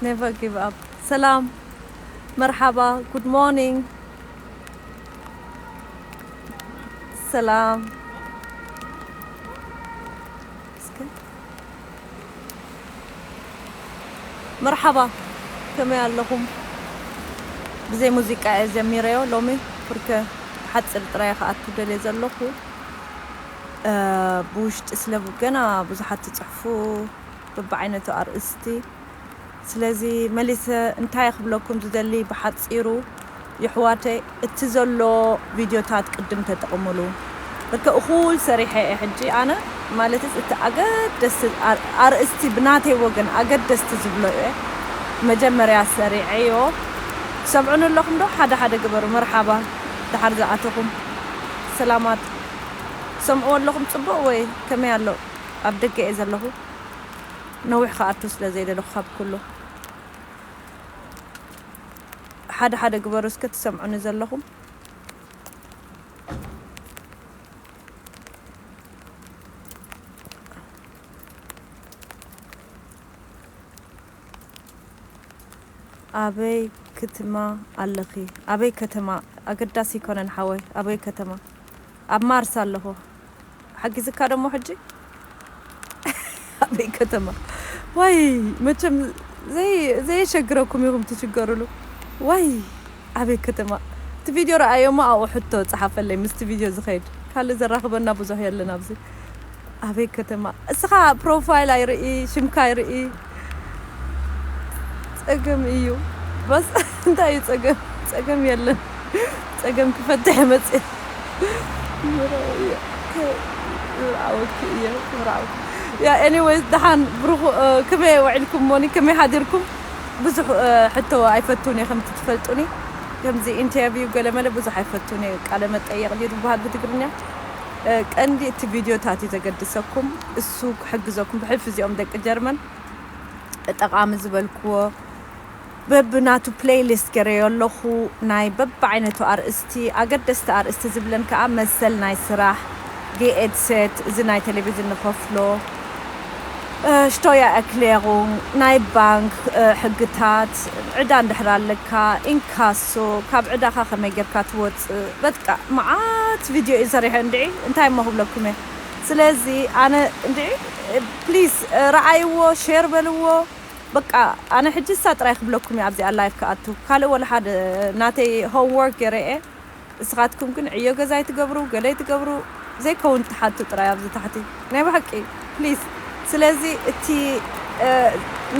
Never give up. ሰላም መርሓባ ጉድ ሞርኒንግ ሰላም መርሓባ ከመይ ኣለኹም ብዘይ ሙዚቃ እየ ጀሚረዮ ሎሚ ብርከ ሓጽር ጥራይ ክኣቱ ደልየ ዘለኹ ብውሽጢ ስለ ገና ብዙሓት ትጽሕፉ በብዓይነቱ ኣርእስቲ ስለዚ መሊሰ እንታይ ክብለኩም ዝደሊ ብሓጺሩ የሕዋተይ እቲ ዘሎ ቪድዮታት ቅድም ተጠቅሙሉ እከ እኩል ሰሪሐ እየ ሕጂ ኣነ ማለትስ እቲ ኣገደስቲ ኣርእስቲ ብናተይ ወገን ኣገደስቲ ዝብሎ እየ መጀመርያ ሰሪዐዮ ትሰምዑኒ ኣለኹም ዶ ሓደ ሓደ ግበሩ መርሓባ ድሓር ዝኣተኹም ሰላማት ትሰምዕዎ ኣለኹም ጽቡቅ ወይ ከመይ ኣሎ ኣብ ደገ እየ ዘለኹ። ነዊሕ ክኣቱ ስለ ዘይደለኹ ካብ ኩሉ ሓደ ሓደ ግበሩ እስከ ትሰምዑኒ ዘለኹም። ኣበይ ክትማ ኣለኺ ኣበይ ከተማ ኣገዳሲ ኣይኮነን ሓወይ ኣበይ ከተማ ኣብ ማርስ ኣለኹ ሓጊዝካ ዶ እሞ ሕጂ ኣበይ ከተማ ዋይ መቸም ዘይ ዘየሸግረኩም ኢኹም ትሽገሩሉ ዋይ ኣበይ ከተማ እቲ ቪድዮ ረኣዮ እሞ ኣብኡ ሕቶ ጸሓፈለይ ምስቲ ቪድዮ ዝኸይድ ካልእ ዘራኽበና ብዙሕ የለን ኣብዚ ኣበይ ከተማ እስኻ ፕሮፋይል ኣይርኢ ሽምካ ኣይርኢ ጸገም እዩ በስ እንታይ እዩ ጸገም ጸገም የለን ጸገም ክፈትሕ መጽእ ያ ኤኒዌይስ ደሓን ብሩኹ ከመይ ውዒልኩም ሞኒ ከመይ ሓዲርኩም ብዙሕ ሕቶ ኣይፈቱን እየ ከምቲ ትፈልጡኒ ከምዚ ኢንተርቪው ገለመለ ብዙሕ ኣይፈቱን እየ ቃለ መጠየቕ ድዩ ዝበሃል ብትግርኛ ቀንዲ እቲ ቪድዮታት እዩ ዘገድሰኩም እሱ ክሕግዘኩም ብሕልፊ እዚኦም ደቂ ጀርመን ጠቃሚ ዝበልክዎ በብናቱ ፕሌይሊስት ገረዮ ኣለኹ ናይ በብዓይነቱ ኣርእስቲ ኣገደስቲ ኣርእስቲ ዝብለን ከዓ መሰል ናይ ስራሕ ጌኤድሴት እዚ ናይ ቴሌቪዥን ንኸፍሎ ሽቶያ ኣክሌሩ ናይ ባንክ ሕግታት ዕዳ እንድሕር ኣለካ ኢንካሶ ካብ ዕዳኻ ከመይ ጌርካ ትወ በቃ መዓት ቪድዮ እየ ሰሪሐ እንድዒ እንታይ እሞ ክብለኩም እየ ስለዚ ኣነ እንድዒ ፕሊስ ረኣይዎ ሼር በልዎ በቃ ኣነ ሕጂ እሳ ጥራይ ክብለኩም እየ ኣብዚኣ ላይፍ ክኣቱ ካልእ ወላ ሓደ ናተይ ሆም ወርክ ገረ እየ እስኻትኩም ግን ዕዮ ገዛ ኣይትገብሩ ገለ ኣይትገብሩ ዘይከውን ትሓቱ ጥራይ ኣብዚ ታሕቲ ናይ ብሓቂ ፕሊስ ስለዚ እቲ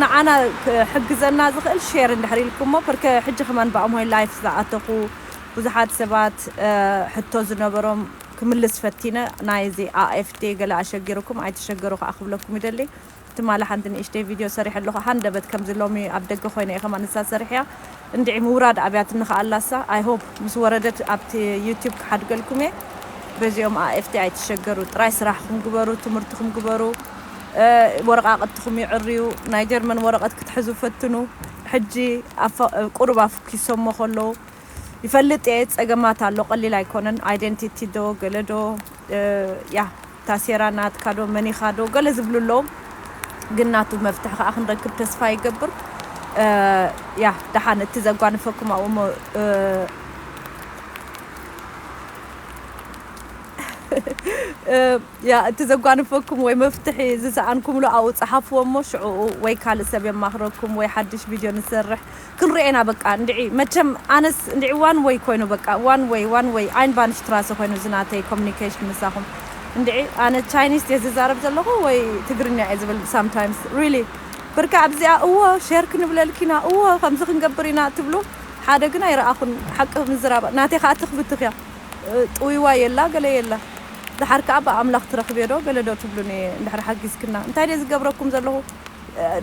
ንዓና ክሕግዘና ዝኽእል ሼር እንድሕር ኢልኩሞ ፐርከ ሕጂ ከማን ብኣምሆይ ላይፍ ዝኣተኹ ብዙሓት ሰባት ሕቶ ዝነበሮም ክምልስ ፈቲነ ናይ እዚ AFD ገለ ኣሸጊሩኩም ኣይትሸገሩ ከኣ ክብለኩም ይደሊ ትማሊ ሓንቲ ንእሽተይ ቪድዮ ሰሪሐ ኣለኹ ሃንደበት ከምዚ ሎሚ ኣብ ደገ ኮይነ እየ ከማን ንሳ ሰሪሐያ እንድዒ ምውራድ ኣብያትኒ ከኣ ኣላሳ I hope ምስ ወረደት ኣብቲ YouTube ክሓድገልኩም እየ በዚኦም AFD ኣይትሸገሩ ጥራይ ስራሕኹም ግበሩ ትምህርትኹም ግበሩ ወረቓቕትኹም የዕርዩ ናይ ጀርመን ወረቐት ክትሕዙ ፈትኑ ሕጂ ቁሩብ ኪሰሞ ከሎ ይፈልጥ እየ ጸገማት ኣሎ ቀሊል ኣይኮነን ኣይደንቲቲ ዶ ገለ ዶ ያህ ታሴራ ናትካ ዶ መን ኢኻ ዶ ገለ ዝብሉ ኣለዉ ግን ናቱ መፍትሒ ከኣ ክንረክብ ተስፋ ይገብር ያህ ደሓን እቲ ዘጓንፈኩም ኣብኡ እሞ ያ እቲ ዘጓንፈኩም ወይ መፍትሒ ዝሰኣንኩምሉ ኣብኡ ጸሓፍዎ እሞ ሽዕኡ ወይ ካልእ ሰብ የማኽረኩም ወይ ሓድሽ ቪድዮ ንሰርሕ ክንርኤ ኢና በቃ እንድዒ መቸም ኣነስ እንድዒ ዋን ወይ ኮይኑ በቃ ዋን ወይ ዋን ወይ ኣይንባንሽትራሰ ኮይኑ እዚ ናተይ ኮሙኒኬሽን ምሳኹም እንድዒ ኣነ ቻይኒስ ድየ ዝዛረብ ዘለኹ ወይ ትግርኛ እየ ዝብል ሳምታይምስ ሪሊ ብርካ ኣብዚኣ እዎ ሸር ክንብለልኪ ኢና እዎ ከምዚ ክንገብር ኢና ትብሉ ሓደ ግን ኣይረኣኹን ሓቂ ምዝራብ ናተይ ከኣ ትኽ ብትኽ እያ ጥውይዋይ የላ ገለ የላ ደሓር ከኣ ብኣምላኽ ትረኽብዮ ዶ ገለ ዶ ትብሉኒ እንድሕር ሓጊዝክና እንታይ ድየ ዝገብረኩም ዘለኹ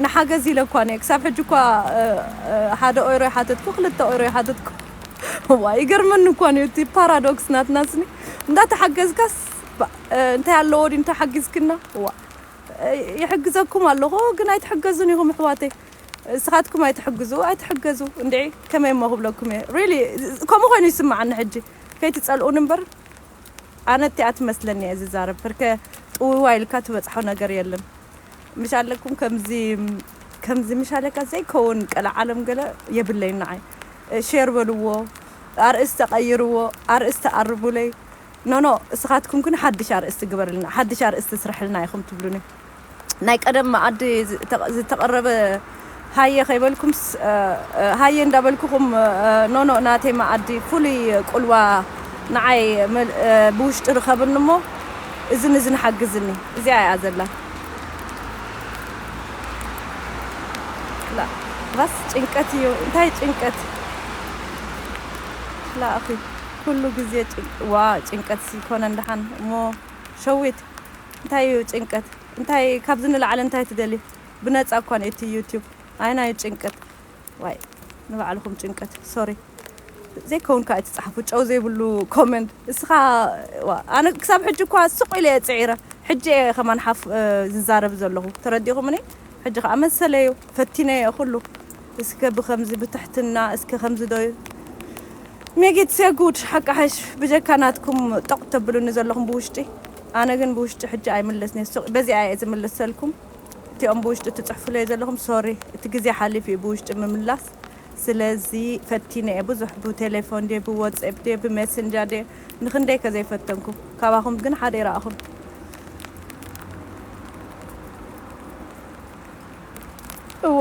ንሓገዝ ኢለ እኳ ነይ ክሳብ ሕጂ እኳ ሓደ ኦይሮ ይሓተትኩ ክልተ ኦይሮ ይሓተትኩ እዋይ ይገርመኒ እኳ ነይ እቲ ፓራዶክስ ናትና ስኒ እንዳ ተሓገዝካስ እንታይ ኣለዎ ዲ እንተሓጊዝክና እዋ ይሕግዘኩም ኣለኹ ግን ኣይትሕገዙን ኢኹም ኣሕዋተይ እስኻትኩም ኣይትሕግዙ ኣይትሕገዙ እንድዒ ከመይ እሞ ክብለኩም እየ ሪሊ ከምኡ ኮይኑ ይስምዓኒ ሕጂ ከይትጸልኡኒ እምበር ኣነ እቲኣ ትመስለኒ እየ ዝዛረብ ፍርከ ጥውይዋይ ኢልካ ትበጽሖ ነገር የለን ምሻለኩም ከምዚ ከምዚ ምሻለካ ዘይከውን ቀለዓለም ገለ የብለይን ንዓይ ሼር በልዎ ኣርእስተ ቀይርዎ ኣርእስተ ኣርሙለይ ኖኖ እስኻትኩም ግን ሓድሽ ኣርእስቲ ግበርልና ሓድሽ ኣርእስቲ ስርሕልና ኢኹም ትብሉኒ ናይ ቀደም መኣዲ ዝተቐረበ ሃየ ከይበልኩምስ ሃየ እንዳበልኩኹም ኖኖእ ናተይ መኣዲ ፍሉይ ቁልዋ ንዓይ ብውሽጢ ርኸብኒ እሞ እዝን እዝን ሓግዝኒ እዚኣ እያ ዘላ ላእኽስ ጭንቀት እዩ እንታይ ጭንቀት ላእኺ ኩሉ ግዜ ዋ ጭንቀት ኮነ እንዳሓን እሞ ሸዊት እንታይ እዩ ጭንቀት እንታይ ካብዚ ንላዕሊ እንታይ ትደልዪ ብነጻ እኳ እቲ ዩቱብ ኣየናይ ጭንቀት ዋይ ንባዕልኹም ጭንቀት ሶሪ ዘይከውን ከኣ ኣይትጽሓፉ ጨው ዘይብሉ ኮመንት እስኻ ዋእ ኣነ ክሳብ ሕጂ እኳ ስቕ ኢለ እየ ጽዒረ ሕጂ እየ ከማን ሓፍ ዝዛረብ ዘለኹ ተረዲኹምኒ ሕጂ ከኣ መሰለይ'ዩ ፈቲነዮ ኩሉ እስከ ብከምዚ ብትሕትና እስከ ከምዚ ዶ ሜጊት ሴጉድ ሓቃሕሽ ብጀካ ናትኩም ጦቅ ተብሉኒ ዘለኹም ብውሽጢ ኣነ ግን ብውሽጢ ሕጂ ኣይምለስን'የ ስቅ በዚኣ'የ ዝምልሰልኩም እቲኦም ብውሽጢ ትጽሕፉለይ ዘለኹም ሶሪ እቲ ግዜ ሓሊፉ'ዩ ብውሽጢ ምምላስ ስለዚ ፈቲነ'የ ብዙሕ ብቴሌፎን ድየ ብዎጽኤፕ ድየ ብሜሰንጃ ድየ ንክንደይ ከ ዘይፈተንኩ ካባኩም ግን ሓደ ይረኣኩን። እወ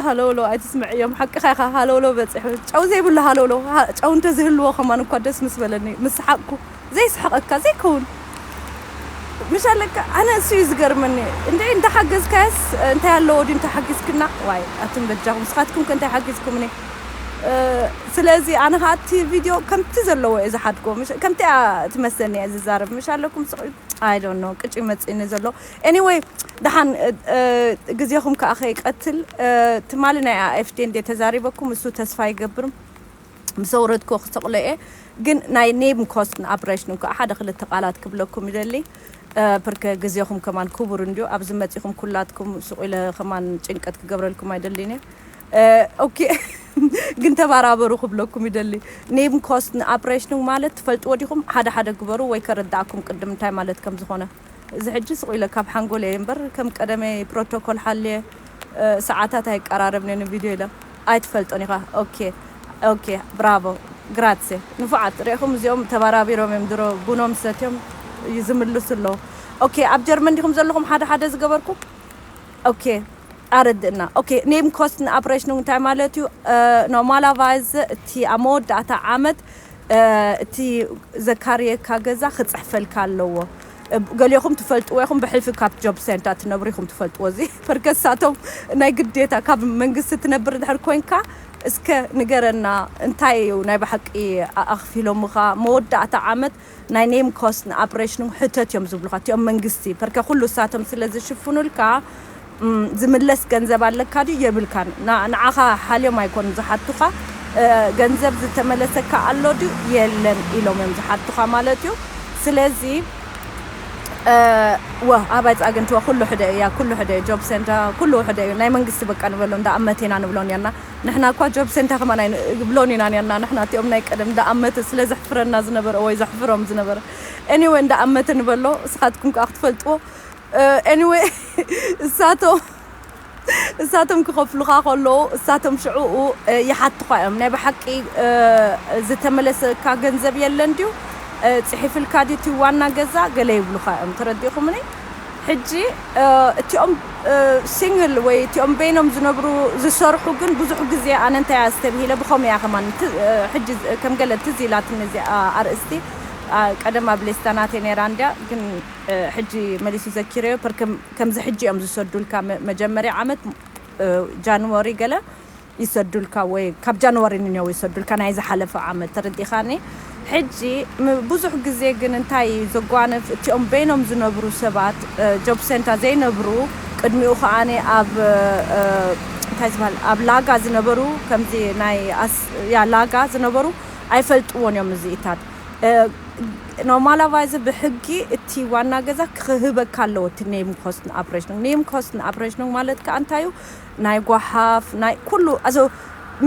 ሃለውለው ኣይትስምዕዮም ሓቅኻ ኢኻ ሃለውለው በጺሑ ጨው ዘይብሉ ሃለውለው ጨው እንተዝህልዎ ከማን እኳ ደስ ምስ በለኒ ምስ ሰሓቅኩ ዘይስሕቀካ ዘይከውን ምሽ ኣለካ ኣነ እሱ እዩ ዝገርመኒ እንዴ እንተሓገዝካያስ እንታይ ኣለዎ ድዩ እንተሓጊዝክና ዋይ ኣቱም በጃኹም ንስኻትኩም ከ እንታይ ሓጊዝኩምኒ ስለዚ ኣነ ከዓ እቲ ቪድዮ ከምቲ ዘለዎ እየ ዝሓድጎ ከምቲ እያ ትመስለኒ እየ ዝዛረብ ምሽ ኣለኩም ስቕ ኣይ ዶንት ኖ ቅጭ ይመፅእኒ ዘሎ ኤኒወይ ደሓን ግዜኹም ከዓ ከይቀትል ትማሊ ናይ ኣኤፍዴ እንዴ ተዛሪበኩም እሱ ተስፋ ይገብርም ምስ ኣውረድኩዎ ክሰቕሎ እየ ግን ናይ ኔብንኮስትን ኣፕሬሽንን ክኣ ሓደ ክልተ ቃላት ክብለኩም ይደሊ ፕርከ ግዜኹም ከማን ኩቡር እንድዩ ኣብዚ መጺኹም ኩላትኩም ሱቕ ኢለ ከማን ጭንቀት ክገብረልኩም ኣይደልን እየ ኦኬ ግን ተባራበሩ ክብለኩም ይደሊ ኔብንኮስትን ኣፕሬሽንን ማለት ትፈልጥዎ ዲኹም ሓደ ሓደ ግበሩ ወይ ከረድኣኩም ቅድም እንታይ ማለት ከም ዝኾነ እዚ ሕጂ ስቕ ኢለ ካብ ሓንጎለይ እምበር ከም ቀደመይ ፕሮቶኮል ሓልየ ሰዓታት ኣይቀራረብን'የ ንቪድዮ ኢለ ኣይትፈልጦን ኢኻ ኦኬ ኦኬ ብራቮ ግራትሴ ንፉዓት ርኢኹም እዚኦም ተባራቢሮም እዮም ድሮ ቡኖም ሰትዮም ይዝምልሱ ኣለዉ ኦኬ ኣብ ጀርመን ዲኹም ዘለኹም ሓደ ሓደ ዝገበርኩም ኦኬ ኣረድእና ኦኬ ኔምኮስትንኣብሬሽኑንግ እንታይ ማለት'ዩ ኖርማላቫይዝ እቲ ኣብ መወዳእታ ዓመት እቲ ዘካርየካ ገዛ ክጽሕፈልካ ኣለዎ ገሌኹም ትፈልጥዎ ኢኹም ብሕልፊ ካብ ጆብ ሴንታ ትነብሩ ኢኹም ትፈልጥዎ እዚ ፐርከሳቶም ናይ ግዴታ ካብ መንግስቲ ትነብር ድሕር ኮንካ እስከ ንገረና እንታይ እዩ ናይ ብሓቂ ኣኽፊሎምኻ መወዳእታ ዓመት ናይ ኔም ኮስት ንኣፕሬሽን ሕተት እዮም ዝብሉኻ እቲኦም መንግስቲ ፐርከ ኩሉ እሳቶም ስለ ዝሽፍኑልካ ዝምለስ ገንዘብ ኣለካ ድዩ የብልካን ንዓኻ ሓልዮም ኣይኮኑን ዝሓቱኻ ገንዘብ ዝተመለሰካ ኣሎ ድዩ የለን ኢሎም እዮም ዝሓቱኻ ማለት እዩ ስለዚ ወ ኣባይ ጻግንቲ ወ ኩሉ ሕደ እያ ኩሉ ሕደ እዩ ጆብ ሴንታ ኩሉ ውሕደ እዩ ናይ መንግስቲ በቃ ንበሎ እንዳ ኣመት ኢና ንብሎ ኔርና ንሕና እኳ ጆብ ሴንታ ከማን ኣይንብሎን ኢና ኔርና ንሕና እቲኦም ናይ ቀደም እንዳ ኣመተ ስለ ዘሕፍረና ዝነበረ ወይ ዘሕፍሮም ዝነበረ ኤኒወ እንዳ ኣመተ ንበሎ እስኻትኩም ከኣ ክትፈልጥዎ Anyway እሳቶም እሳቶም ክኸፍሉኻ ከለዉ እሳቶም ሽዕኡ ይሓቱኻ እዮም ናይ ብሓቂ ዝተመለሰካ ገንዘብ የለን ድዩ ጽሒፍልካ ድዩ እቲ ዋና ገዛ ገለ ይብሉኻ እዮም ተረዲኹምኒ ሕጂ እቲኦም ሲንግል ወይ እቲኦም በይኖም ዝነብሩ ዝሰርሑ ግን ብዙሕ ግዜ ኣነ እንታይ ኣስተብሂለ ብኸምኡ እያ ከማን ሕጂ ከም ገለ ትዝ ኢላትኒ እዚኣ ኣርእስቲ ቀደም ኣብ ሌስታ ናተይ ነይራ እንድያ ግን ሕጂ መሊሲ ዘኪረዮ ፐርከ ከምዚ ሕጂ እዮም ዝሰዱልካ መጀመርያ ዓመት ጃንወሪ ገለ ይሰዱልካ ወይ ካብ ጃንዋሪ ንኔው ይሰዱልካ ናይ ዝሓለፈ ዓመት ተረዲኻኒ ሕጂ ብዙሕ ግዜ ግን እንታይ እዩ ዘጓንፍ እቲኦም በይኖም ዝነብሩ ሰባት ጆብ ሴንታ ዘይነብሩ ቅድሚኡ ከኣኒ ኣብ እንታይ ዝበሃል ኣብ ላጋ ዝነበሩ ከምዚ ናይ ያ ላጋ ዝነበሩ ኣይፈልጥዎን እዮም እዚኢታት ኖርማላቫይዘ ብሕጊ እቲ ዋና ገዛ ክህበካ ኣለዎ እቲ ኔም ኮስትን ኣፕሬሽን ኔም ኮስትን ኣፕሬሽን ማለት ከዓ እንታይ እዩ ናይ ጓሓፍ ናይ ኩሉ ኣዞ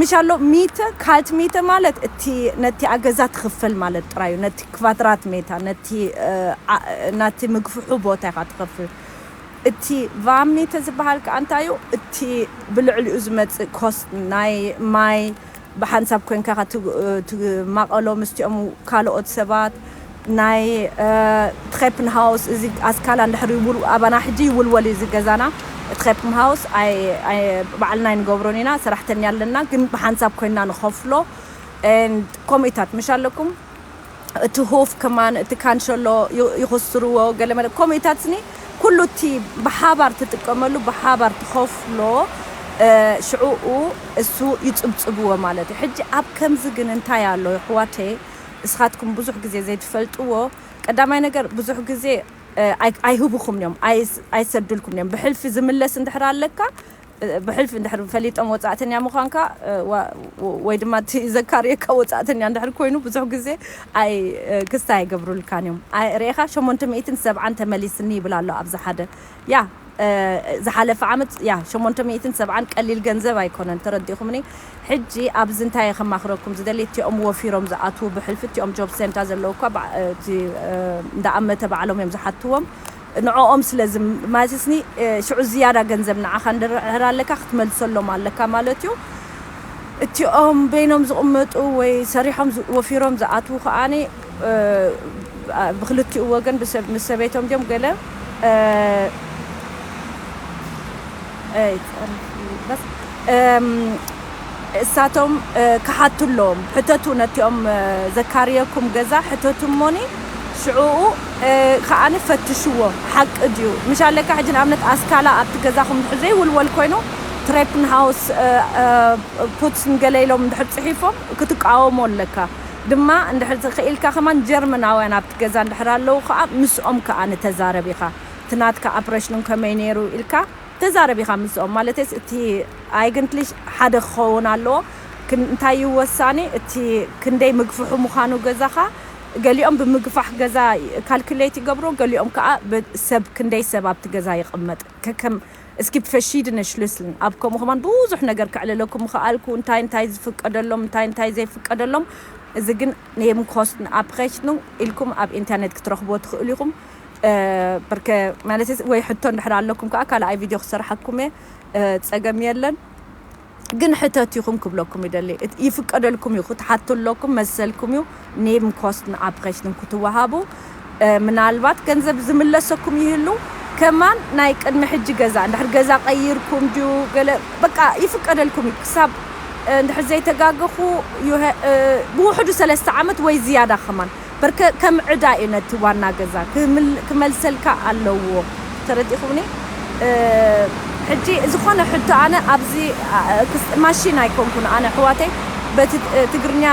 ምሽ ኣሎ ሚተ ካልት ሚተ ማለት እቲ ነቲ ኣገዛ ትኽፈል ማለት ጥራዩ ነቲ ክቫድራት ሜታ ነቲ ናቲ ምግፍሑ ቦታ ኢኻ ትኽፍል እቲ ቫብ ሚተ ዝበሃል ከዓ እንታይ እዩ እቲ ብልዕሊኡ ዝመፅእ ኮስት ናይ ማይ ብሓንሳብ ኮንካ ክትማቐሎ ምስቲኦም ካልኦት ሰባት ናይ ትኼፕንሃውስ እዚ ኣስካላ እንድሕር ይውል ኣባና ሕጂ ይውልወል እዩ እዚ ገዛና ትኼፕምሃውስ ኣይ ኣይ ባዕልና ኣይንገብሮን ኢና ሰራሕተኛ ኣለና ግን ብሓንሳብ ኮይና ንኸፍሎ and ኮሚታት ምሽ ኣለኩም እቲ ሁፍ ከማን እቲ ካንሸሎ ይኹስርዎ ገለ መለ ከምኡ ኢታትኒ ኩሉ እቲ ብሓባር ትጥቀመሉ ብሓባር ትኸፍሎ ሽዕኡ እሱ ይጽብጽብዎ ማለት እዩ ሕጂ ኣብ ከምዚ ግን እንታይ ኣሎ ይሕዋተይ እስኻትኩም ብዙሕ ግዜ ዘይትፈልጥዎ ቀዳማይ ነገር ብዙሕ ግዜ ኣይህብኹም እዮም ኣይሰድልኩም እዮም ብሕልፊ ዝምለስ እንድሕር ኣለካ ብሕልፊ እንድሕር ፈሊጦም ወጻእተኛ ምዃንካ ወይ ድማ እቲ ዘካርየካ ወጻእተኛ እንድሕር ኮይኑ ብዙሕ ግዜ ኣይ ክስታይ ኣይገብሩልካን እዮም ኣይ ርኤኻ ሸሞንተ ሚእትን ሰብዓን ተመሊስኒ ይብል ኣሎ ኣብዚ ሓደ ያ ዝሓለፈ ዓመት ያ ሸሞንተ ሚእትን ሰብዓን ቀሊል ገንዘብ ኣይኮነን ተረዲእኹምኒ ሕጂ ኣብዚ እንታይ እየ ከማኽረኩም ዝደሊ እቲኦም ወፊሮም ዝኣትዉ ብሕልፊ እቲኦም ጆብ ሴንታ ዘለዉ እኳ እቲ እንዳኣመተ ባዕሎም እዮም ዝሓትዎም ንዕኦም ስለ ዝማልስኒ ሽዑ ዝያዳ ገንዘብ ንዓኻ ንድርዕር ኣለካ ክትመልሰሎም ኣለካ ማለት እዩ እቲኦም በይኖም ዝቕመጡ ወይ ሰሪሖም ወፊሮም ዝኣትዉ ከኣ ብኽልቲኡ ወገን ምስ ሰበይቶም ድዮም ገለ እሳቶም ክሓቱ ኣለዎም ሕተቱ ነቲኦም ዘካርየኩም ገዛ ሕተቱ እሞኒ ሽዑኡ ከዓኒ ፈትሽዎ ሓቂ ድዩ ምሻለካ ሕጂ ንኣብነት ኣስካላ ኣብቲ ገዛኹም ድሕር ዘይውልወል ኮይኑ ትሬፕን ሃውስ ፑትስን ገለ ኢሎም ድሕር ፅሒፎም ክትቃወሞ ኣለካ ድማ እንድሕር ክኢልካ ከማን ጀርመናውያን ኣብቲ ገዛ እንድሕር ኣለዉ ከዓ ምስኦም ከዓኒ ተዛረብ ኢኻ እቲ ናትካ ኣፕረሽን ከመይ ነይሩ ኢልካ ተዛረብ ኢኻ ምስኦም ማለተይስ እቲ ኣይግንትሊሽ ሓደ ክኸውን ኣለዎ እንታይ እዩ ወሳኒ እቲ ክንደይ ምግፍሑ ምዃኑ ገዛኻ ገሊኦም ብምግፋሕ ገዛ ካልኩሌት ይገብሮ ገሊኦም ከኣ ሰብ ክንደይ ሰብ ኣብቲ ገዛ ይቕመጥ ከከም Es gibt verschiedene Schlüsseln ኣብ ከምኡ ከማን ብዙሕ ነገር ከዕልለኩም ምኸኣልኩ እንታይ እንታይ ዝፍቀደሎም እንታይ እንታይ ዘይፍቀደሎም እዚ ግን Nebenkosten Abrechnung ኢልኩም ኣብ ኢንተርኔት ክትረኽብዎ ትኽእሉ ኢኹም በርከ ማለተይ ወይ ሕቶ እንድሕር ኣለኩም ከዓ ካልኣይ ቪድዮ ክሰርሓኩም እየ ፀገም የለን ግን ሕተት ይኹም ክብለኩም ይደሊ ይፍቀደልኩም እዩ ክትሓቱ ኣለኩም መሰልኩም እዩ ኔም ኮስትን ኣብኸሽትን ክትወሃቡ ምናልባት ገንዘብ ዝምለሰኩም ይህሉ ከማን ናይ ቅድሚ ሕጂ ገዛ እንድሕር ገዛ ቀይርኩም ድዩ ገለ በቃ ይፍቀደልኩም እዩ ክሳብ እንድሕር ዘይተጋገኹ ብውሕዱ ሰለስተ ዓመት ወይ ዝያዳ ከማን በርከ ከም ዕዳ እዩ ነቲ ዋና ገዛ ክመልሰልካ ኣለዎ ተረዲእኩምኒ ሕጂ ዝኮነ ሕቶ ኣነ ኣብዚ ማሺን ኣይኮንኩን ኣነ ኣሕዋተይ በቲ ትግርኛ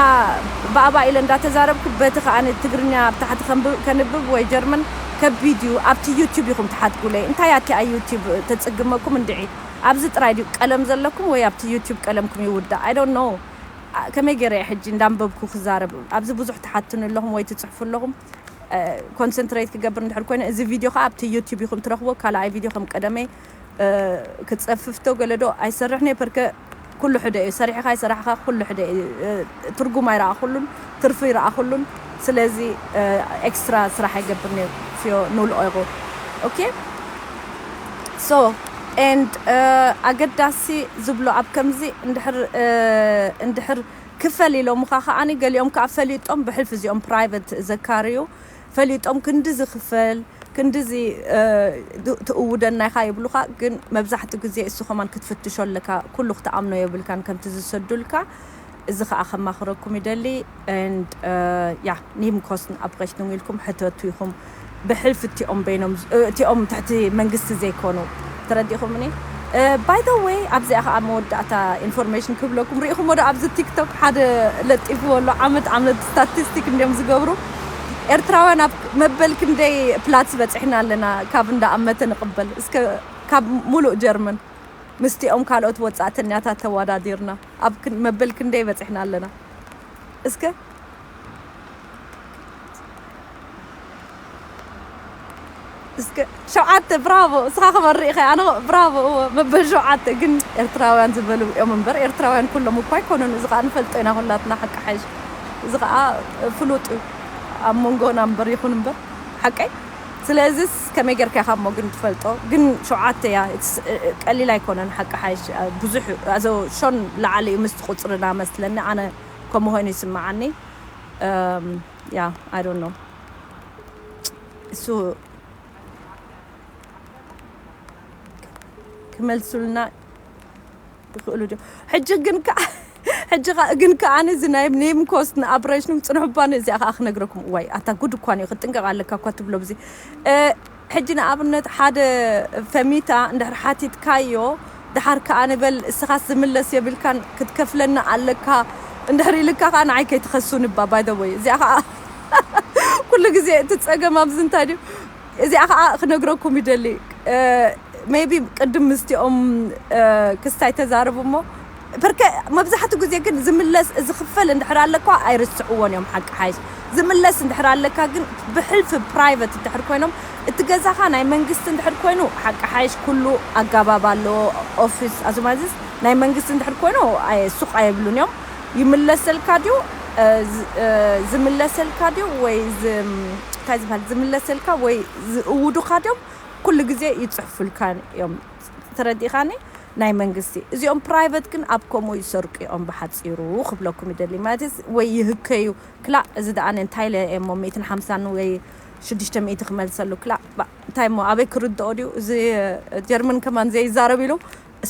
ባእባእ ኢለ እንዳተዛረብኩ በቲ ከኣ ትግርኛ ኣብ ታሕቲ ከንብብ ወይ ጀርመን ከቢድ እዩ ኣብቲ ዩቱብ ኢኩም ትሓትኩለይ እንታይ ኣቲ ኣይ ዩቱብ ተጽግመኩም እንድዒ ኣብዚ ጥራይ ድዩ ቀለም ዘለኩም ወይ ኣብቲ ዩቱብ ቀለምኩም ይውዳእ ኣይ ዶንት ኖው። ከመይ ጌረ እየ ሕጂ እንዳንበብኩ ክዛረብ ኣብዚ ብዙሕ ትሓቱኒ ኣለኹም ወይ ትጽሕፉ ኣለኹም ኮንሰንትሬት ክገብር እንድሕር ኮይነ እዚ ቪድዮ ከዓ ኣብቲ ዩቲዩብ ኢኹም ትረኽቦ ካልኣይ ቪድዮ ከም ቀደመይ ክጸፍፍቶ ገለዶ ኣይሰርሕን እየ ፐርከ ኩሉ ሕደ እዩ ሰሪሕኻ ኣይሰራሕኻ ኩሉ ሕደ እዩ ትርጉም ኣይረኣኹሉን ትርፉ ይረኣኹሉን ስለዚ ኤክስትራ ስራሕ ይገብር ነይሩ ፍዮ ንውልቐኹ ኦኬ ሶ and ኣገዳሲ ዝብሎ ኣብ ከምዚ እንድሕር እንድሕር ክፈል ኢሎምኻ ከኣ ገሊኦም ከኣ ፈሊጦም ብሕልፊ እዚኦም ፕራይቨት ዘካርዩ ፈሊጦም ክንድዚ ክፈል ክንድዚ ትእውደና ኢኻ ይብሉኻ ግን መብዛሕትኡ ግዜ እሱ ከማን ክትፍትሾ ኣለካ ኩሉ ክትኣምኖ የብልካን ከምቲ ዝሰዱልካ እዚ ከኣ ከማኽረኩም ይደሊ and ja Nebenkosten Abrechnung ኢልኩም ሕተቱ ኢኹም ብሕልፊ እቲኦም በይኖም እቲኦም ትሕቲ መንግስቲ ዘይኮኑ ተረዲእኹምኒ by the way ኣብዚኣ ከኣ መወዳእታ ኢንፎርሜሽን ክብለኩም ርኢኹሞ ዶ ኣብዚ ቲክቶክ ሓደ ለጢፍዎ ኣሎ ዓመት ዓመት ስታቲስቲክ እንዲዮም ዝገብሩ ኤርትራውያን ኣብ መበል ክንደይ ፕላትስ በጺሕና ኣለና ካብ እንዳ ኣመተ ንቕበል እስከ ካብ ሙሉእ ጀርመን ምስቲኦም ካልኦት ወጻእተኛታት ተወዳዲርና ኣብ መበል ክንደይ በጺሕና ኣለና እስከ? እስከ ሸውዓተ ብራቮ እስኻ ክበሪ ኢኻ ኣነ ብራቮ እወ መበል ሸውዓተ ግን ኤርትራውያን ዝበሉ እዮም እምበር ኤርትራውያን ኩሎም እኳ ኣይኮኑን እዚ ከዓ ንፈልጦ ኢና ኩላትና ሓቂ ሓይሽ እዚ ከዓ ፍሉጥ እዩ ኣብ መንጎና እምበር ይኹን እምበር ሓቀይ ስለዚስ ከመይ ገርካ ኢካ እሞ ግን ትፈልጦ ግን ሸውዓተ እያ ኢትስ ቀሊል ኣይኮነን ሓቂ ሓይሽ ብዙሕ ኣዞ ሾን ልዓሊ እዩ ምስቲ ቁጽርና መስለኒ ኣነ ከምኡ ኮይኑ ይስምዓኒ ያ ኣይ ዶንት ኖው እሱ ክመልሱልና ይኽእሉ ድዮም ሕጂ ግን ከኣ ሕጂ ከኣ ግን ከኣ እዚ ናይ ኔም ኮስት ንኣብረሽንም ጽንሑ ባኒ እዚኣ ከኣ ክነግረኩም እዋይ ኣታ ጉድ እኳ ንዩ ክትጥንቀቕ ኣለካ እኳ ትብሎ ብዚ ሕጂ ንኣብነት ሓደ ፈሚታ እንድሕር ሓቲትካዮ ድሓር ከኣ ንበል እስኻስ ዝምለስ የብልካን ክትከፍለና ኣለካ እንድሕር ኢልካ ከኣ ንዓይ ከይትኸሱኒ እባ ባይ ዘ ወይ እዚኣ ከኣ ኩሉ ግዜ እቲ ጸገም ኣብዚ እንታይ ድዩ እዚኣ ከኣ ክነግረኩም ይደሊ ሜይቢ ቅድም ምስቲኦም ክስታይ ተዛረቡ እሞ ፐርከ መብዛሕትኡ ግዜ ግን ዝምለስ ዝኽፈል እንድሕር ኣለኳ ኣይርስዕዎን እዮም ሓቂ ሓይሽ ዝምለስ እንድሕር ኣለካ ግን ብሕልፊ ፕራይቨት እንድሕር ኮይኖም እቲ ገዛኻ ናይ መንግስቲ እንድሕር ኮይኑ ሓቂ ሓይሽ ኩሉ ኣጋባብ ኣለዎ ኦፊስ ኣዝማዝስ ናይ መንግስቲ እንድሕር ኮይኑ ኣየ ሱቕ ኣይብሉን እዮም ይምለሰልካ ድዩ ዝምለሰልካ ድዩ ወይ እንታይ ዝበሃል ዝምለሰልካ ወይ ዝእውዱኻ ድዮም ኩሉ ግዜ ይጽሕፉልካ እዮም ተረዲእኻኒ ናይ መንግስቲ እዚኦም ፕራይቨት ግን ኣብ ከምኡ ይሰርቁ እዮም ብሓጺሩ ክብለኩም ይደሊ ማለት ወይ ይህከዩ ክላእ እዚ ደኣ እንታይ ኢለ እየ እሞ ሚእትን ሓምሳን ወይ ሽዱሽተ ሚእቲ ክመልሰሉ ክላእ እንታይ እሞ ኣበይ ክርድኦ ድዩ እዚ ጀርመን ከማን ዘይዛረብ ኢሉ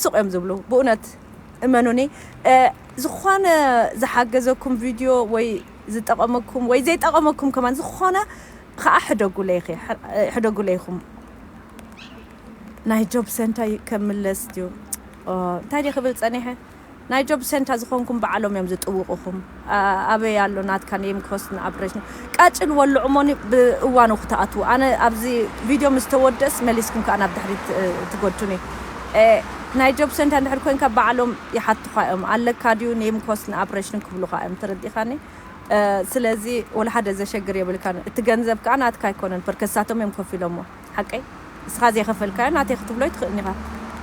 ስቅ እዮም ዝብሉ ብኡነት እመኑኒ ዝኾነ ዝሓገዘኩም ቪድዮ ወይ ዝጠቐመኩም ወይ ዘይጠቐመኩም ከማን ዝኾነ ከዓ ሕደጉለይኺ ሕደጉለይኹም ናይ ጆብ ሰንታይ ከምለስ ድዩ እንታይ ድየ ክብል ፀኒሐ ናይ ጆብ ሰንታ ዝኮንኩም ባዓሎም እዮም ዝጥውቁኩም ኣበይ ኣሎ ናትካ ነይም ኮስት ን ኣብረጅ ቃጭል ወልዑ እሞ ብ እዋኑ ክትኣትዉ ኣነ ኣዚ ቪድዮ ምስ ተወድእስ መሊስኩም ካኣ ናብ ድሕሪት ትጎቱኒ ናይ ጆብ ሰንታ እንድሕር ኮንካ ባዓሎም ይሓቱካ እዮም ኣለካ ድዩ ነይም ኮስት ን ኣብረጅ ን ክብሉካ እዮም ተረዲካኒ ስለዚ ወላሓደ ዘሸግር የብልካን እቲ ገንዘብ ካኣ ናትካ ኣይኮነን ፐርከዝ ሳቶም እዮም ከፊሎሞ። ሓቀይ እስኻ ዘይኸፈልካዮ ናተይ ክትብሎ ኣይትኽእልን ኢኻ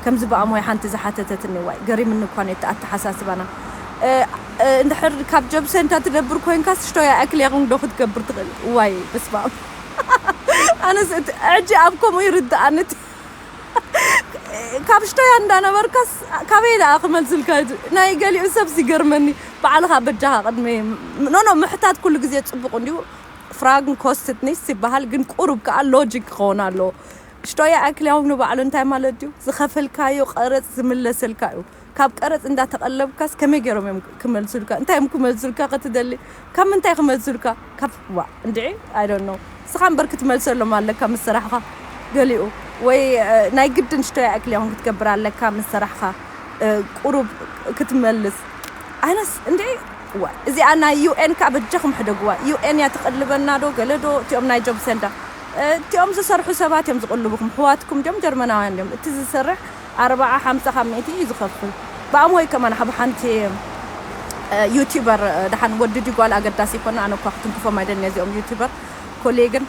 ከምዚ ብኣሞይ ሓንቲ ዝሓተተትኒ እዋይ ገሪምኒ እኳ ነቲ ኣተሓሳስባና እንድሕር ካብ ጀብሰንታ ትነብር ኮንካስ ሽቶያ ኣክልያኹም ዶ ክትገብር ትኽእል እዋይ በስማም ኣነስ እቲ ሕጂ ኣብ ከምኡ ይርድኣኒ እቲ ካብ ሽቶያ እንዳነበርካስ ካበይ ደኣ ክመልስልካ ናይ ገሊኡ ሰብስ ይገርመኒ በዓልኻ በጃኻ ቅድሚ ኖኖ ምሕታት ኩሉ ግዜ ጽቡቕ እንዲዩ ፍራግን ኮስትት ኒስት ይበሃል ግን ቁሩብ ከኣ ሎጂክ ክኸውን ኣለዎ ሽቶያ ኣክልያውም ንባዕሉ እንታይ ማለት እዩ ዝኸፈልካዮ ቀረጽ ዝምለሰልካ እዩ ካብ ቀረጽ እንዳተቐለብካስ ከመይ ገይሮም እዮም ክመልሱልካ እንታይ እዮም ክመልሱልካ ክትደሊ ካብ ምንታይ ክመልሱልካ ካብ ዋ እንድዒ ኣይ ዶንት ኖ ንስኻ እምበር ክትመልሰሎም ኣለካ ምስ ስራሕኻ ገሊኡ ወይ ናይ ግድን ሽቶያ ኣክልያውም ክትገብር ኣለካ ምስ ስራሕኻ ቁሩብ ክትመልስ ኣነስ እንድዒ እዋይ እዚኣ ናይ ዩኤን ከኣ በጃኹም ሕደግዋ ዩኤን እያ ትቅልበና ዶ ገለ ዶ እቲኦም ናይ ጆብ ሰንዳ እቲኦም ዝሰርሑ ሰባት እዮም ዝቅልቡኹም ኣሕዋትኩም ድዮም ጀርመናውያን ድዮም እቲ ዝሰርሕ ኣርባዓ ሓምሳ ካብ ሚእቲ እዩ ዝኸፍል ብኣም ወይ ከማን ኣብ ሓንቲ ዩቲበር ደሓን ወዲ ድዩ ጓል ኣገዳሲ ኣይኮነ ኣነ እኳ ክትንክፎም ኣይደልን እየ እዚኦም ዩቲበር ኮሌ ግን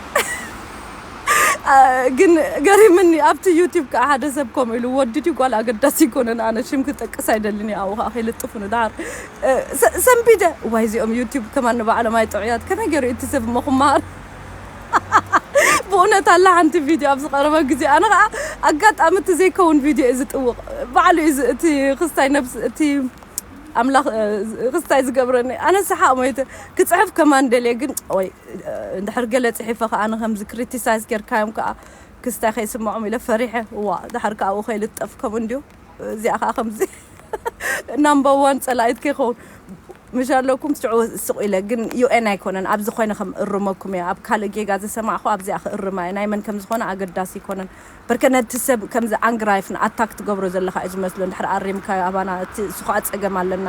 ግን ገሪምኒ ኣብቲ ዩቲብ ከኣ ሓደ ሰብ ከምኡ ኢሉ ወዲ ድዩ ጓል ኣገዳሲ ኣይኮነን ኣነ ሽም ክጠቅስ ኣይደልን እየ ኣብኡ ከኣ ከይልጥፉኒ ደሓር ሰንቢደ እዋይ እዚኦም ዩቱብ ከማን ንባዕሎም ኣይጥዑያት ከመይ ገሩ እዩ እቲ ሰብ እሞ ክመሃር ብእውነት ኣላ ሓንቲ ቪድዮ ኣብ ዝቐረበ ግዜ ኣነ ከዓ ኣጋጣሚ እቲ ዘይከውን ቪድዮ እዩ ዝጥውቕ ባዕሉ እዩ እቲ ክስታይ ነብስ እቲ ኣምላኽ ክስታይ ዝገብረኒ ኣነ ሰሓቕ ሞይተ ክፅሕፍ ከማን ደልየ ግን ወይ እንድሕር ገለ ፅሒፈ ከዓ ኣነ ከምዚ ክሪቲሳይዝ ጌርካዮም ከዓ ክስታይ ከይስምዖም ኢለ ፈሪሐ እዋ ድሓር ከዓ ኣብኡ ከይልጠፍ ከምኡ እንድዩ እዚኣ ከኣ ከምዚ ናምበር ዋን ጸላኢት ከይከውን ምሽ ኣለኩም ሽዑ ስቕ ኢለ ግን ዩኤን ኣይኮነን ኣብዚ ኮይነ ከም እርመኩም እየ ኣብ ካልእ ጌጋ ዘሰማዕኹ ኣብዚኣ ክእርማ እየ ናይ መን ከም ዝኾነ ኣገዳሲ ኣይኮነን በርከ ነቲ ሰብ ከምዚ ኣንግራይፍ ን ኣታክ ትገብሮ ዘለኻ እዩ ዝመስሎ እንድሕር ኣሪምካዮ ኣባና እቲ እሱ ከኣ ጸገም ኣለና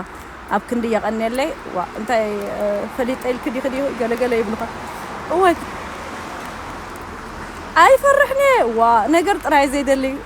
ኣብ ክንዲ የቐንየለይ ዋእ እንታይ ፈሊጠ ኢልኪ ዲኺ ዲኺ ገለ ገለ ይብሉኻ እወ ኣይፈርሕን እየ ዋእ ነገር ጥራይ ዘይደሊ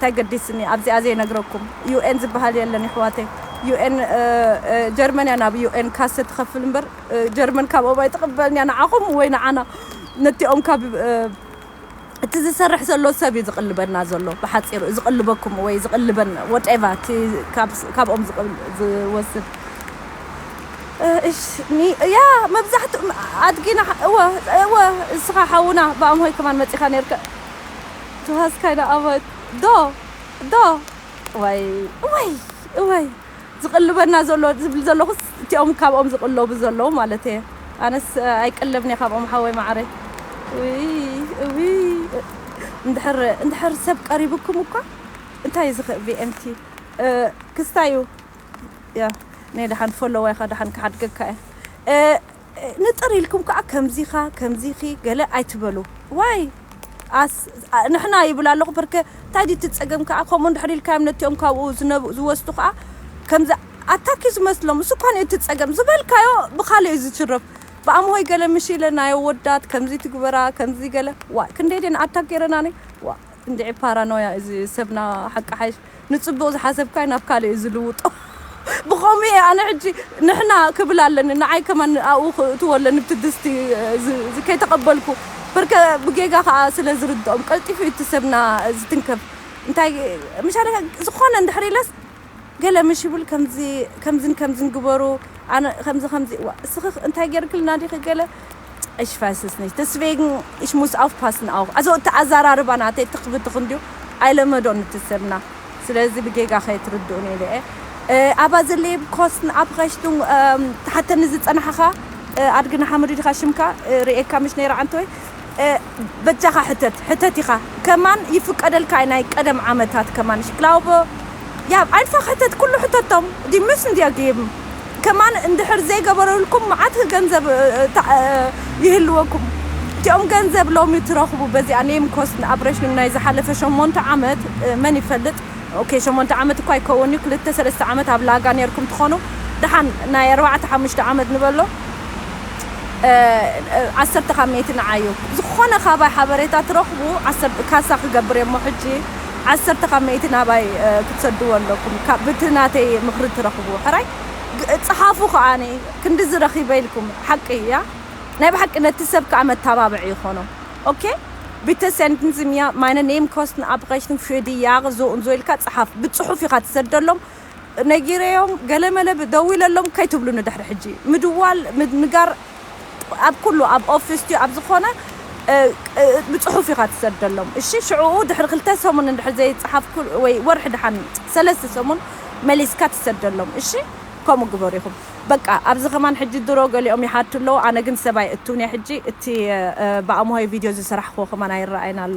ታይ ገዲስኒ ኣብዚኣ ዘይነግረኩም UN ዝብሃል የለን የሕዋተይ UN ጀርመን እያ ናብ UN ካሰ ትኸፍል እምበር ጀርመን ካብኦም ኣይትቕበልን እያ ንዓኹም ወይ ንዓና ነቲኦም ካብ እቲ ዝሰርሕ ዘሎ ሰብ እዩ ዝቕልበና ዘሎ ብሓጺሩ እዩ ዝቕልበኩም ወይ ዝቕልበን ወደቫ እቲ ካብኦም ዝወስድ እሽ ኒ ያ መብዛሕትኡ ኣድጊና እወ እወ እስኻ ሓውና ብኣምሆይ ከማን መጺኻ ነርካ Du hast keine Arbeit? Do! Do! እዋይ እዋይ እዋይ ዝቕልበና ዘሎ ዝብል ዘለኹስ እቲኦም ካብኦም ዝቕለቡ ዘለዉ ማለት እየ ኣነስ ኣይቅለብን እየ ካብኦም ሓወይ መዓረይ እውይ እውይ እንድሕር እንድሕር ሰብ ቀሪቡኩም እኳ እንታይ እዚ ከ VMT ክስታዩ ያ ነይ ደሓን ፎሎዋይኻ ደሓን ክሓድገካ እየ ንጥር ኢልኩም ከኣ ከምዚኻ ከምዚኺ ገለ ኣይትበሉ ዋይ ኣስ ንሕና ይብል ኣለኹ ፐርከ እንታይ ድዩ እቲ ጸገም ከኣ ከምኡ እንድሕር ኢልካዮም ነቲኦም ካብኡ ዝነብ ዝወስዱ ከኣ ከምዚ ኣታክ እዩ ዝመስሎም እሱ እኳ እቲ ጸገም ዝበልካዮ ብኻልእ እዩ ዝችረፍ ብኣምሆይ ገለ ምሽ ኢለ ናይ ኣወዳት ከምዚ ትግበራ ከምዚ ገለ ዋይ ክንደይ ድየን ኣታክ ገይረናኒ ዋ እንድዒ ፓራኖያ እዚ ሰብና ሓቂ ሓይሽ ንጽቡቅ ዝሓሰብካዮ ናብ ካልእ እዩ ዝልውጦ ብከምኡ እየ ኣነ ሕጂ ንሕና ክብል ኣለኒ ንዓይ ከማን ኣብኡ ክእትዎ ኣለኒ ብቲ ድስቲ እዚ ከይተቀበልኩ ብርከ ብጌጋ ከኣ ስለ ዝርድኦም ቀልጢፉ እዩ እቲ ሰብና ዝትንከፍ እንታይ ምሻለካ ዝኾነ እንድሕር ኢለስ ገለ ምሽ ይብል ከምዚ ከምዝን ከምዝን ግበሩ ኣነ ከምዚ ከምዚ እዋ እስኺ እንታይ ጌርክልና ዲኺ ገለ እሽ ፋስስ ነሽ ደስቬግን እሽ ሙስ ኣውፍፓስን ኣው ኣዞ እቲ ኣዘራርባ ናተይ ትኽብትኽ እንዲዩ ኣይለመዶን እቲ ሰብና ስለዚ ብጌጋ ከይትርድኡን ኢለ እየ ኣባ ዘለየ ኮስን ኣብ ኸሽቱን ተሓተኒ ዝጸናሕኻ ኣድግና ሓመዱ ዲኻ ሽምካ ርእየካ ምሽ ነይረ ዓንተወይ በጃኻ ሕተት ሕተት ኢኻ ከማን ይፍቀደልካ እዩ ናይ ቀደም ዓመታት ከማን እሺ ክላውበ ያብ ኣይንፋክ ሕተት ኩሉ ሕተቶም ዲ ምስ እንድያ ገይብም ከማን እንድሕር ዘይገበረልኩም መዓት ገንዘብ ይህልወኩም እቲኦም ገንዘብ ሎሚ ትረኽቡ በዚኣ ኔም ኮስ ንኣብረሽንም ናይ ዝሓለፈ ሸሞንተ ዓመት መን ይፈልጥ ኦኬ ሸሞንተ ዓመት እኳ ኣይከውን እዩ ክልተ ሰለስተ ዓመት ኣብ ላጋ ኔርኩም ትኾኑ ደሓን ናይ ኣርባዕተ ሓሙሽተ ዓመት ንበሎ ዓሰርተ ካብ ሚእቲ ንዓዩ ዝኾነ ካባይ ሓበሬታ ትረኽቡ ዓሰርተ ካሳ ክገብር እየሞ ሕጂ ዓሰርተ ካብ ሚእቲ ናባይ ክትሰድዎ ኣለኩም ብቲ ናተይ ምኽሪ ትረኽቡ ሕራይ ጸሓፉ ከዓኒ ክንድዚ ረኺበ ኢልኩም ሓቂ እያ ናይ ብሓቂ ነቲ ሰብ ከዓ መተባብዒ ይኾኖ ኦኬ Bitte senden Sie mir meine Nebenkosten Abrechnung für die Jahre so und so ኢልካ ጸሓፍ ብጽሑፍ ኢኻ ትሰደሎም ነጊረዮም ገለመለ ደዊለሎም ከይትብሉኒ ድሕሪ ሕጂ ምድዋል ምንጋር ኣብ ኩሉ ኣብ ኦፊስ ድዩ ኣብ ዝኾነ ብጽሑፍ ኢኻ ትሰደሎም እሺ ሽዑኡ ድሕሪ ክልተ ሰሙን እንድሕር ዘይጸሓፍኩ ወይ ወርሒ ድሓን ሰለስተ ሰሙን መሊስካ ትሰደሎም እሺ ከምኡ ግበሩ ኢኹም በቃ ኣብዚ ከማን ሕጂ ድሮ ገሊኦም ይሓቱ ኣለዉ ኣነ ግን ሰብ ኣይእትውን እየ ሕጂ እቲ ብኣምሆይ ቪድዮ ዝሰራሕክዎ ከማን ኣይረኣይን ኣሎ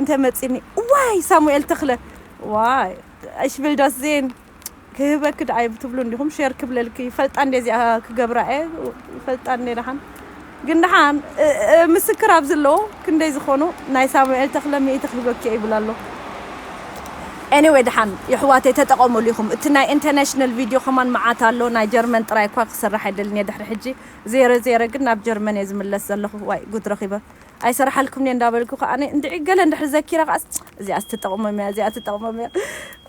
እንተ መጺኒ እዋይ ሳሙኤል ተኽለ ዋይ እሽ ቪል ዳስ ዜን ክህበኪ ደኣ ይብትብሉ እንዲኹም ሼር ክብለልኪ ይፈልጣ እንዴ እዚኣ ክገብራ እየ ይፈልጣ እንዴ ደሓን ግን ደሓን ምስክር ኣብ ዘለዎ ክንደይ ዝኾኑ ናይ ሳሙኤል ተኽለ ሚእቲ ክህበኪ ይብል ኣሎ ኤኒወይ ደሓን የሕዋተይ ተጠቐሙሉ ኢኹም እቲ ናይ ኢንተርናሽናል ቪድዮ ከማን መዓት ኣሎ ናይ ጀርመን ጥራይ እኳ ክስራሕ ኣይደልን እየ ድሕሪ ሕጂ ዜረ ዜረ ግን ናብ ጀርመን እየ ዝምለስ ዘለኹ ዋይ ጉድ ረኺበ ኣይሰርሓልኩምን'የ እንዳበልኩ ከኣ እንድዒ ገለ እንድሕሪ ዘኪረ ከኣስ እዚኣስ ትጠቕሞም'ያ እዚኣ ትጠቕሞም'ያ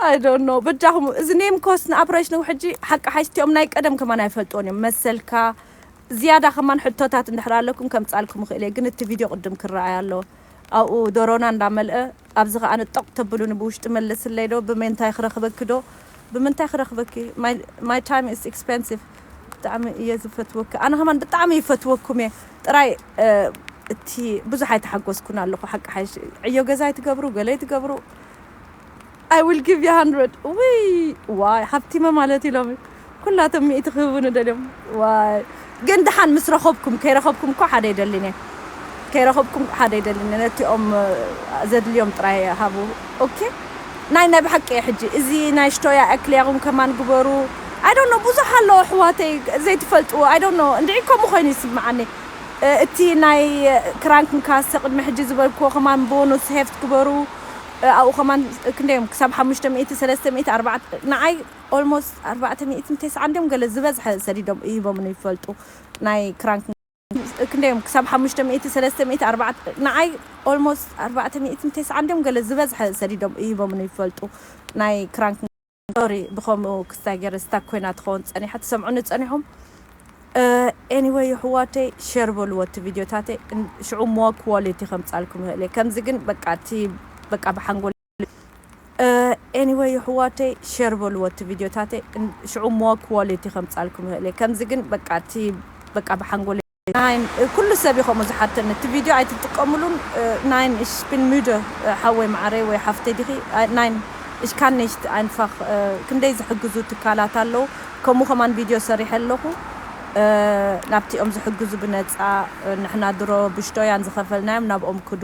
ኣይ ዶንት ኖው በጃኹም እዚ ኔም ኮስ ንኣብራይሽ ንው ሕጂ ሓቂ ሓይሽ እቲኦም ናይ ቀደም ከማን ኣይፈልጥዎን እዮም መሰልካ ዝያዳ ከማን ሕቶታት እንድሕር ኣለኩም ከምጻልኩም ይኽእል'የ ግን እቲ ቪድዮ ቅድም ክረኣይ ኣለዎ ኣብኡ ዶሮና እንዳመልአ ኣብዚ ከኣ ንጠቕ ተብሉኒ ብውሽጢ መልስለይ ዶ ብሜንታይ ክረኽበኪ ዶ ብምንታይ ክረኽበኪ my time is expensive ብጣዕሚ እየ ዝፈትወኪ ኣነ ከማን ብጣዕሚ ይፈትወኩም እየ ጥራይ እቲ ብዙሕ ኣይተሓጎስኩን ኣለኹ ሓቂ ሓይሽ ዕዮ ገዛ ይትገብሩ ገለ ይትገብሩ I will give you 100 ውይ ዋይ ሃብቲመ ማለት እዩ ሎሚ ኩላቶም ሚእቲ ክህቡኒ ደልዮም ዋይ ግን ድሓን ምስ ረኸብኩም ከይረኸብኩም እኮ ሓደ ይደሊን እየ ከይረኸብኩም ሓደ ይደሊን እየ ነቲኦም ዘድልዮም ጥራይ ሃቡ ኦኬ ናይ ናይ ብሓቂ እየ ሕጂ እዚ ናይ ሽቶያ ኣክልያኹም ከማን ግበሩ ኣይ ዶንት ኖ ብዙሕ ኣሎ ኣሕዋተይ ዘይትፈልጥዎ ኣይ ዶንት ኖ እንድዒ ከምኡ ኮይኑ ይስምዓኒ እቲ ናይ ክራንክ ንካሰ ቅድሚ ሕጂ ዝበልክዎ ከማን ቦኑስ ሄፍት ግበሩ ኣብኡ ከማን ክንደይ እዮም ክሳብ ሓሙሽተ ሚእቲ ሰለስተ ሚእቲ ኣርባዕተ ንዓይ Almost ኣርባዕተ ሚእትን ተስዓን ድዮም ገለ ዝበዝሐ ሰዲዶም እሂቦም ንይፈልጡ ናይ ክራንክ ክንደይ እዮም ክሳብ ሓሙሽተ ሚእቲ ሰለስተ ሚእቲ ኣርባዕተ ንዓይ Almost ኣርባዕተ ሚእትን ተስዓን ድዮም ገለ ዝበዝሐ ሰዲዶም እሂቦም ንይፈልጡ ናይ ክራንክ ሶሪ ብከምኡ ክስታይ ገይረ ስታክ ኮይና ትከውን ጸኒሓ ትሰምዑኒ ጸኒሑም ኤኒወይ የሕዋተይ ሸር በልዎ እቲ ቪድዮታተይ ሽዑ ሞር ክዋሊቲ ከምጻልኩም ይኽእል እየ ከምዚ ግን በቃ እቲ በቃ ብሓንጎል ኤኒወይ የሕዋተይ ሸር በልዎ እቲ ቪድዮታተይ ሽዑ እሞ ኳሊቲ ከምጻልኩም ይኽእል እየ ከምዚ ግን በቃ እቲ በቃ ብሓንጎለይ ናይን ኩሉ ሰብ እዩ ከምኡ ዝሓተኒ እቲ ቪድዮ ኣይትጥቀምሉን ናይን እሽ ቢን ሙደ ሓወይ መዓረይ ወይ ሓፍተይ ዲኺ ናይን እሽ ካን ኔሽት ኣይንፋኽ ክንደይ ዝሕግዙ ትካላት ኣለዉ ከምኡ ከማን ቪድዮ ሰሪሐ ኣለኹ ናብቲኦም ዝሕግዙ ብነፃ ንሕና ድሮ ብሽቶያን ዝኸፈልናዮም ናብኦም ክዱ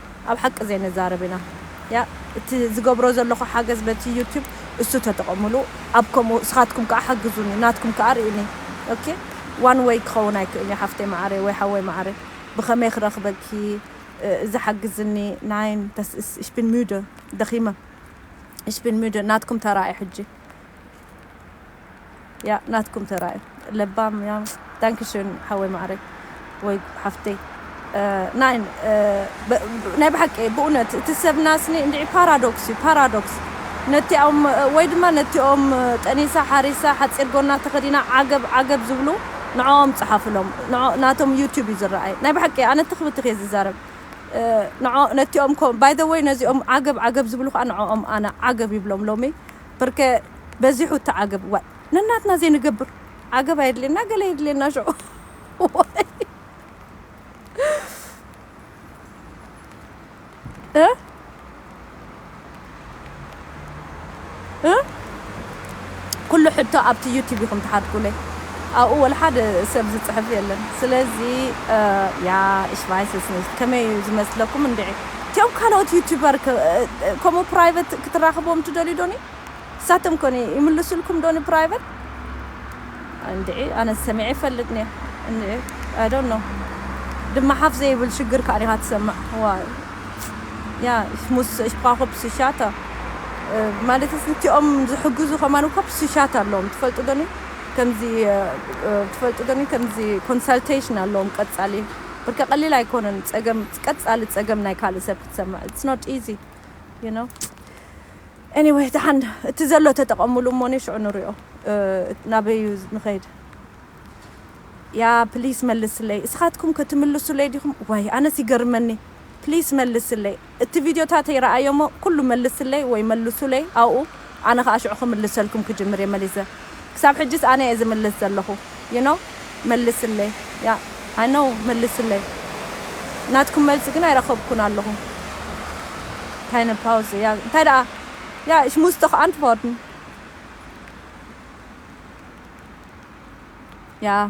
ኣብ ሓቂ ዘይንዛረብ ኢና ያእ እቲ ዝገብሮ ዘለኩ ሓገዝ በቲ ዩቱብ እሱ ተጠቀሙሉ ኣብ ከምኡ ስካትኩም ካኣ ሓግዙኒ ናትኩም ካኣ ሪኡኒ ኦኬ ዋን ወይ ክከውን ኣይክእልንዩ ሓፍተይ ማዓረይ ወይ ሓወይ ማዓረይ ብከመይ ክረክበኪ እዚ ሓግዝኒ ናይን ደስ ኢሽ ቢን ሙደ ደኪመ ኢሽ ቢን ሙደ ናትኩም ተራ እዩ ሕጂ። ያእ ናትኩም ተራ እዩ ለባም ያእ ዳንኪ ሽን ሓወይ ማዓረይ ወይ ሓፍተይ ናይን ናይ ብሓቂ ብኡነት እቲ ሰብና ስኒ እንድዒ ፓራዶክስ እዩ ፓራዶክስ ነቲኦም ወይ ድማ ነቲኦም ጠኒሳ ሓሪሳ ሓፂር ጎና ተኸዲና ዓገብ ዓገብ ዝብሉ ንዕኦም ፀሓፍሎም ናቶም ዩቱብ እዩ ዝረኣይ ናይ ብሓቂ ኣነ ትኽ ብትኽ እየ ዝዛረብ ነቲኦም ባይ ዘ ወይ ነዚኦም ዓገብ ዓገብ ዝብሉ ከዓ ንዕኦም ኣነ ዓገብ ይብሎም ሎሚ ብርከ በዚሑ እቲ ዓገብ ዋይ ነናትና ዘይንገብር ዓገብ ኣየድልየና ገለ የድልየና ሽዑ እ ኩሉ ሕቶ ኣብቲ ዩቲብ ኢኹም ትሓትኩለይ ኣብኡ ወላ ሓደ ሰብ ዝፅሕፍ የለን ስለዚ ያ እሽቫይስስ ከመይ እዩ ዝመስለኩም እንድዒ እቲኦም ካልኦት ዩቱበር ከ ከምኡ ፕራይቨት ክትራኽብዎም ትደልዩ ዶኒ ንሳቶም ከ ይምልሱልኩም ዶ ንፕራይቨት እንድዒ ኣነስ ሰሚዐ ይፈልጥ ኒየ እንድዒ ኣይ ዶንት ኖው ድማ ሓፍ ዘይብል ሽግር ከኣ ዲኻ ትሰምዕ ዋይ ያ ሙስ እኳ ኮፕስሻታ ማለትስ እቲኦም ዝሕግዙ ከማን ኮፕስሻት ኣለዎም ትፈልጡ ዶኒ ከምዚ ትፈልጡ ዶኒ ከምዚ ኮንሳልቴሽን ኣለዎም ቀጻሊ ብርክ ቀሊል ኣይኮነን ጸገም ቀጻሊ ጸገም ናይ ካልእ ሰብ ክትሰምዕ it's not easy you know anyway ደሓን እቲ ዘሎ ተጠቐምሉ እሞኒ ሽዑ ንሪኦ ናበይ እዩ ንኸይድ ያ ፕሊስ መልስለይ እስኻትኩም ከ ትምልሱለይ ዲኹም ዋይ ኣነስ ይገርመኒ ፕሊስ መልስለይ እቲ ቪድዮታተይ ረኣዮሞ ኩሉ መልስለይ ወይ መልሱለይ ኣብኡ ኣነ ከኣ ሽዑ ክምልሰልኩም ክጅምር እየ መሊሰ ክሳብ ሕጂስ ኣነ እየ ዝምልስ ዘለኹ you know መልስለይ yeah i know መልስለይ ናትኩም መልሲ ግን ኣይረኸብኩን ኣለኹ keine Pause yeah እንታይ ደኣ yeah ich muss doch antworten yeah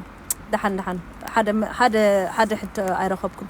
ደሓን ደሓን ሓደ ሓደ ሓደ ሕቶ ኣይረኸብኩን።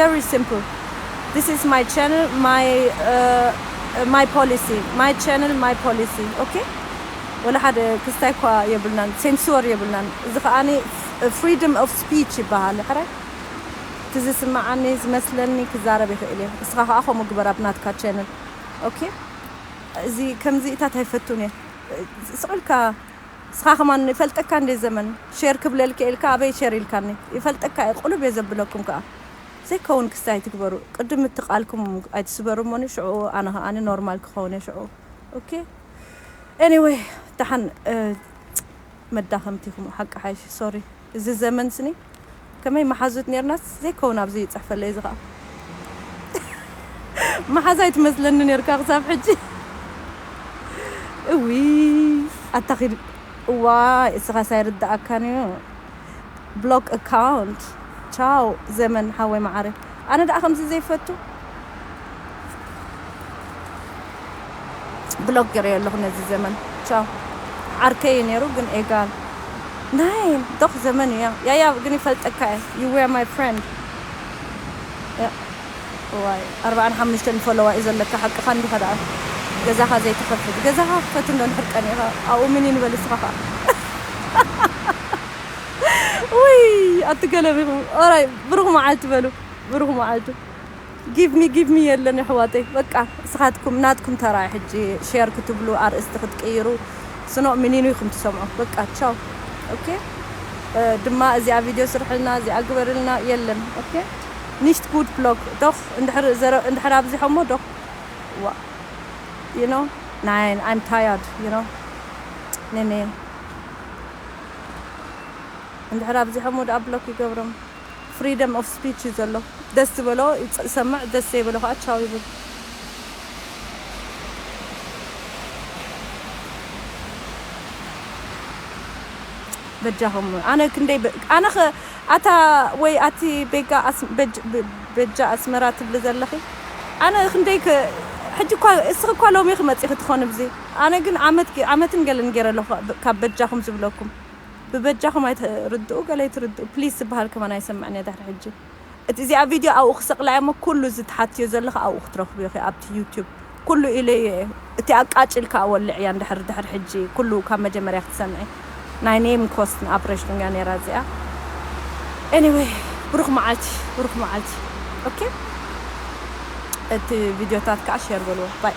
Very simple this is my channel my my policy my channel my policy ok ወላ ሓደ ክስታይ እኳ የብልናን ሴንሱር የብልናን እዚ ከኣ ፍሪደም ኦፍ ስፒች ይበሃል ሕራይ እቲ ዝስምዓኒ ዝመስለኒ ክዛረብ ይኽእል እየ እስኻ ከኣ ከምኡ ግበር ኣብ ናትካ ቻነል ok እዚ ከምዚ እታት ኣይፈቱን እየ ስቕ ኢልካ ንስኻ ከማን ይፈልጠካ እንዴ ዘመን ሼር ክብለልኪ እየ ኢልካ ኣበይ ሸር ኢልካኒ ይፈልጠካ እየ ቁልብ እየ ዘብለኩም ከኣ ዘይከውን ክስቲ ኣይትግበሩ ቅድም እቲ ቃልኩም ኣይትስበሩ እሞኒ ሽዑ ኣነ ከኣ ኖርማል ክኸውን እየ ሽዑ ኦኬ ኤኒወይ ደሓን መዳከምቲ ኢኩም ሓቂ ሓይሽ ሶሪ። እዚ ዘመን ስኒ ከመይ ማሓዙት ኔርናስ ዘይከውን ኣብዚ ይጽሕፈለይ እዚ ከኣ ማሓዛ ኣይትመስለኒ ኔርካ ክሳብ ሕጂ እውይ ኣታ ኪድ እዋይ እስኻስ ኣይርደኣካን እዩ ብሎክ ኣካውንት ቻው ዘመን ሓወይ ማዓረይ። ኣነ ደኣ ከምዚ ዘይፈቱ ብሎክ ገረዮ ኣለኩ ነዚ ዘመን ቻው ዓርከይ እዩ ነይሩ ግን ኤጋል ናይ ዶክ ዘመን እዩ ያያ ግን ይፈልጠካ እየ you were my friend እዋይ ኣርብዓን ሓሙሽተን ፎሎዋ እዩ ዘለካ ሓቅካ እንዲካ ደኣ ገዛካ ዘይትከፍት ገዛካ ክፈት እንዶ ድሕር ቀኒካ ኣብኡ ምን ይንበል እስካ ከኣ ውይ ኣትገለቢኹም ኦራይ ብሩኽ መዓልቲ በሉ ብሩኽ መዓልቲ ጊቭሚ ጊቭሚ የለን የሕዋተይ በቃ እስኻትኩም ናትኩም ተራ ሕጂ ሼር ክትብሉ ኣርእስቲ ክትቅይሩ ስኖ ሚኒኑ ኢኹም ትሰምዑ በቃ ቻው ኦኬ ድማ እዚኣ ቪድዮ ስርሕልና እዚኣ ግበርልና የለን ኦኬ ኒሽት ጉድ ብሎግ ዶኽ እንድሕር ኣብዚሖሞ ዶኽ ዋ ዩ ኖ ናይን ኣይም ታያርድ ዩ ኖ ኔኔ እንድሕር ኣብዚሖሞ ድኣ ብሎክ ይገብሮም ፍሪደም ኦፍ ስፒች እዩ ዘሎ ደስ ዝበሎ ይሰምዕ ደስ ዘይበሎ ከኣ ቻው ይብል። በጃኹም ኣነ ክንደይ በ- ኣነ ኸ ኣታ ወይ ኣቲ ቤጋ ኣስ- በጅ- በ- በጃ ኣስመራ ትብሊ ዘለኺ ኣነ ክንደይ ከ ሕጂ እኳ እስኺ እኳ ሎሚ ኢኺ መጺኺ ትኾኒ ብዚ ኣነ ግን ዓመት ዓመትን ገለን ጌረ ኣለኩ ካብ በጃኩም ዝብለኩም ብበጃኩም ኣይትርድኡ ገለ ኣይትርድኡ ፕሊስ ዝብሃል ከማን ኣይሰምዕን እየ ድሕሪ ሕጂ እቲ እዚኣ ቪድዮ ኣብኡ ክሰቅላ እየ እሞ ኩሉ እዚ ትሓትዮ ዘለኪ ኣብኡ ክትረክብዮ ኢኪ ኣብቲ ዩቱብ ኩሉ ኢለዮ እየ እቲ ኣቃጭልካ ወልዕያ እንድሕር ድሕሪ ሕጂ ኩሉ ካብ መጀመርያ ክትሰምዒ ናይ ኔም ኮስትን ኣፕሬሽን እያ ኔራ እዚኣ ኤኒዌይ ብሩክ መዓልቲ ብሩክ መዓልቲ ኦኬ እቲ ቪድዮታት ከዓ ሼር በልዎ ባይ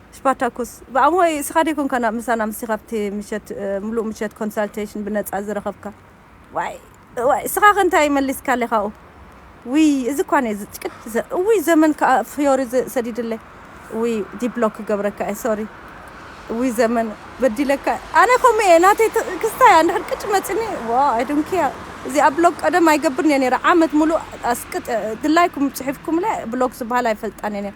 ስፓርታኩስ፣ ብኣምሆይ እስኻ ደይኮንካን ምሳና ምስቲ ካብቲ ምሸት ምሉእ ምሸት ኮንሳልተይሽን ብነጻ ዝረኸብካ ዋይ እዋይ እስኻኸ እንታይ መሊስካለይ ካብኡ ውይ እዚ እኳ ነይሩ ዝጭቅጭ ዘ እውይ ዘመን ከኣ ፍዮሪ ዘ ሰዲድለይ ውይ ዲብሎክ ክገብረካ እየ ሶሪ ውይ ዘመን በዲለካ ኣነ ከምኡ እየ ናተይ ት- ክስታይ ኣንድሕር ቅጭ መጽኒ ዋ ኣይ ዶንት ኬር እዚኣ ብሎክ ቀደም ኣይገብርን እየ ነይረ ዓመት ምሉእ ኣስቅጥ ድላይኩም ጽሒፍኩምለ ብሎክ ዝበሃል ኣይፈልጣን እየ ነይረ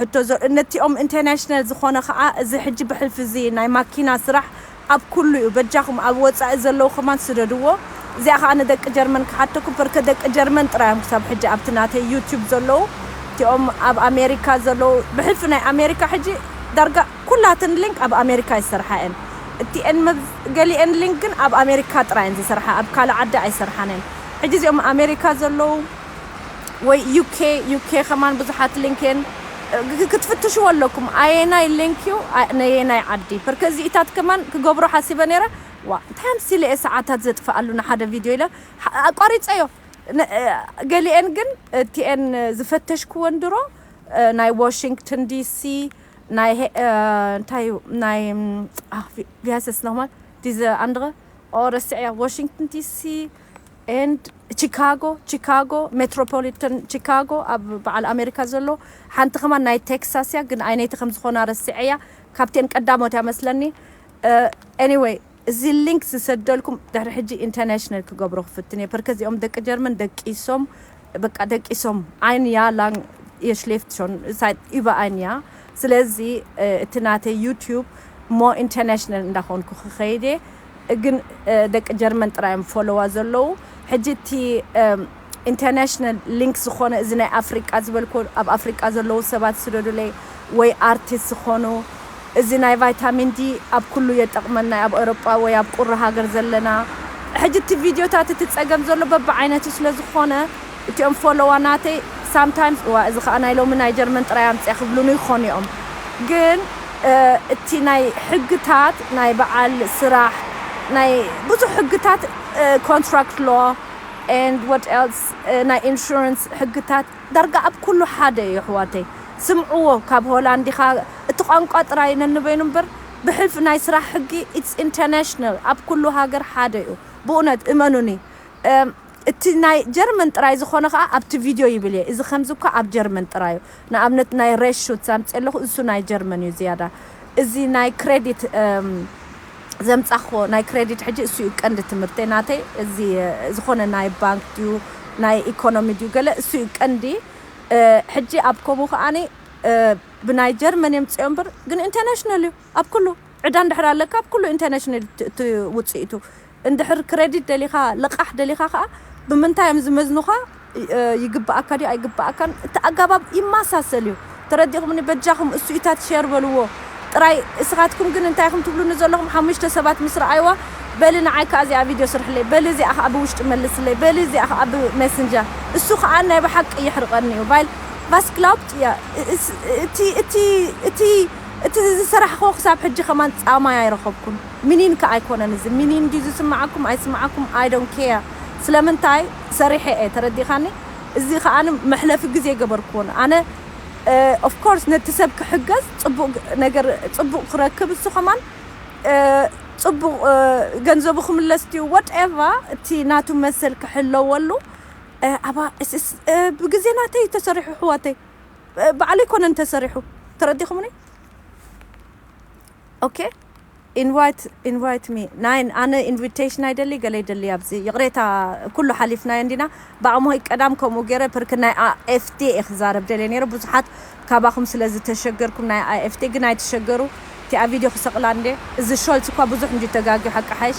ሕቶ ዘርእነቲኦም ኢንተርናሽናል ዝኾነ ከኣ እዚ ሕጂ ብሕልፊ እዚ ናይ ማኪና ስራሕ ኣብ ኩሉ እዩ በጃኹም ኣብ ወጻኢ ዘለዉ ከማን ስደድዎ እዚኣ ከኣ ንደቂ ጀርመን ክሓተኩም ፐርከ ደቂ ጀርመን ጥራይ እዮም ክሳብ ሕጂ ኣብቲ ናተይ ዩቱብ ዘለዉ እቲኦም ኣብ ኣሜሪካ ዘለዉ ብሕልፊ ናይ ኣሜሪካ ሕጂ ዳርጋ ኩላተን ሊንክ ኣብ ኣሜሪካ እዩ ዝሰርሓ እየን እቲኤን መብ ገሊኤን ሊንክ ግን ኣብ ኣሜሪካ ጥራይ እየን ዝሰርሓ ኣብ ካልእ ዓዲ ኣይሰርሓን እየን ሕጂ እዚኦም ኣሜሪካ ዘለዉ ወይ UK UK ከማን ብዙሓት ሊንክ እየን ክትፍትሽዎ ኣለኩም ኣየናይ ሊንክ እዩ ነየናይ ዓዲ ብርክ እዚኢታት ከማን ክገብሮ ሓሲበ ነይረ ዋ እንታይ ኣምሲለ እየ ሰዓታት ዘጥፍኣሉ ንሓደ ቪድዮ ኢለ ኣቋሪፀዮ ገሊኤን ግን እቲኤን ዝፈተሽክወን ድሮ ናይ ዋሽንግተን ዲሲ ናይ እንታይ እዩ ናይ ቪያሰስ ነማል ዲዘ ኣንድረ ኦ ረስዐያ ዋሽንግተን ዲሲ and ቺካጎ፣ Chicago፣ Metropolitan Chicago፣ ኣብ በዓል ኣሜሪካ ዘሎ፣ ሓንቲ ከማን ናይ ቴክሳስ እያ ግን ኣይነይቲ ከም ዝኮና ረሲዐያ ካብቲኤን ቀዳሞት እያ መስለኒ anyway እዚ link ዝሰደልኩም ድሕሪ ሕጂ international ክገብሮ ክፍትን እየ ፐርከ እዚኦም ደቂ ጀርመን ደቂሶም በቃ ደቂሶም ኣይን እያ ላንግ እየ ሽሌፍት ሾን ሳይት እባ ኣይን እያ ስለዚ እቲ ናተይ ዩቲዩብ ሞ ኢንተርናሽናል እንዳኾንኩ ክኸይድ እየ ግን ደቂ ጀርመን ጥራይ እዮም ፎሎዋ ዘለዉ ሕጂ እቲ ኢንተርናሽናል ሊንክ ዝኾነ እዚ ናይ ኣፍሪቃ ዝበልኩ ኣብ ኣፍሪቃ ዘለዉ ሰባት ስደዱለይ ወይ ኣርቲስት ዝኾኑ እዚ ናይ ቫይታሚን ዲ ኣብ ኩሉ የጠቅመና ዩ ኣብ ኤሮጳ ወይ ኣብ ቁሪ ሃገር ዘለና ሕጂ እቲ ቪድዮታት እቲ ጸገም ዘሎ በብዓይነቱ ስለ ዝኮነ እቲኦም ፎሎዋ ናተይ ሳም ታይምስ እዋእ እዚ ከኣ ናይ ሎሚ ናይ ጀርመን ጥራይ ኣምጽኣ ክብሉኒ ይኮኑ ዮም ግን እቲ ናይ ሕግታት ናይ በዓል ስራሕ ናይ ብዙሕ ሕግታት ኮንትራክት ሎው and what else ናይ ኢንሹራንስ ሕግታት ዳርጋ ኣብ ኩሉ ሓደ እዩ ኣሕዋተይ ስምዕዎ ካብ ሆላንድ ኢካ እቲ ቋንቋ ጥራይ ነንበይኑ እምበር ብሕልፊ ናይ ስራሕ ሕጊ ኢትስ ኢንተናሽናል ኣብ ኩሉ ሃገር ሓደ እዩ ብኡነት እመኑኒ እቲ ናይ ጀርመን ጥራይ ዝኮነ ከኣ ኣብቲ ቪድዮ ይብል እየ እዚ ከምዚ እኳ ኣብ ጀርመን ጥራይ እዩ ንኣብነት ናይ ሬስ ሹትስ ኣምጺኤ ኣለኩ ንሱ ናይ ጀርመን እዩ ዝያዳ እዚ ናይ ክሬዲት ዘምጻክዎ ናይ ክረዲት ሕጂ እሱ እዩ ቀንዲ ትምህርተይ ናተይ እዚ ዝኮነ ናይ ባንክ ድዩ ናይ ኢኮኖሚ ድዩ ገለ እሱ እዩ ቀንዲ ሕጂ ኣብ ከምኡ ከኣ ብናይ ጀርመን እዮም ጽኦም ብር ግን ኢንተርናሽናል እዩ ኣብ ኩሉ ዕዳ እንድሕር ኣለካ ኣብ ኩሉ ኢንተርናሽናል እቲ ውጽኢቱ እንድሕር ክረዲት ደሊካ ልቃሕ ደሊካ ከኣ ብምንታይ እዮም ዝመዝኑካ ይግበኣካ ድዩ ኣይግበኣካን እቲ ኣጋባብ ይማሳሰል እዩ ተረዲእኩምኒ በጃኩም እሱኢታት ሸር በልዎ ጥራይ እስካትኩም ግን እንታይ ኢኩም ትብሉኒ ዘለኩም ሓሙሽተ ሰባት ምስ ረኣይዋ በሊ ንዓይ ከኣ እዚኣ ቪድዮ ስርሕለይ በሊ እዚኣ ከኣ ብውሽጢ መልስለይ በሊ እዚኣ ከኣ ብ ሜስንጀር እሱ ከኣ ናይ ብሓቂ የሕርቀኒ እዩ ቫይል ቫስ ግላውብት እያ እቲ እቲ እቲ እቲ ዝሰራሕክዎ ክሳብ ሕጂ ከማን ጻማይ ኣይረከብኩን ሚኒን ከኣ ኣይኮነን እዚ ሚኒን ድዩ ዝስመዓኩም ኣይስመዓኩም ኣይ ዶን ኬር ስለምንታይ ሰሪሐ እየ ተረዲካኒ እዚ ከኣ መሕለፊ ግዜ ገበርክዎን ኣነ of course ነቲ ሰብ ክሕገዝ ጽቡቅ ነገር ጽቡቅ ክረክብ እሱ ከማን ጽቡቅ ገንዘቡ ክምለስ ድዩ what ever እቲ ናቱ መሰል ክሕለወሉ ኣባ ብግዜ ናተይ እዩ ተሰሪሑ ኣሕዋተይ ባዕለይ ኮነን ተሰሪሑ ተረዲክሙኒ። ኦኬ ኢንቫይት ኢንቫይት ሚ ናይ ኣነ ኢንቪቴሽን ኣይደሊ ገለ ይደሊ ኣብዚ ይቕሬታ ኩሉ ሓሊፍናዮ እንዲና ብኣሞይ ቀዳም ከምኡ ገይረ ፕርክ ናይ ኣኤፍቴ እየ ክዛረብ ደልየ ነይረ ብዙሓት ካባኹም ስለ ዝተሸገርኩም ናይ ኣኤፍቴ ግን ኣይትሸገሩ እቲኣ ቪድዮ ክሰቕላ እንዴ እዚ ሾልትስ እኳ ብዙሕ እንድዩ ተጋግዩ ሓቂ ሓይሽ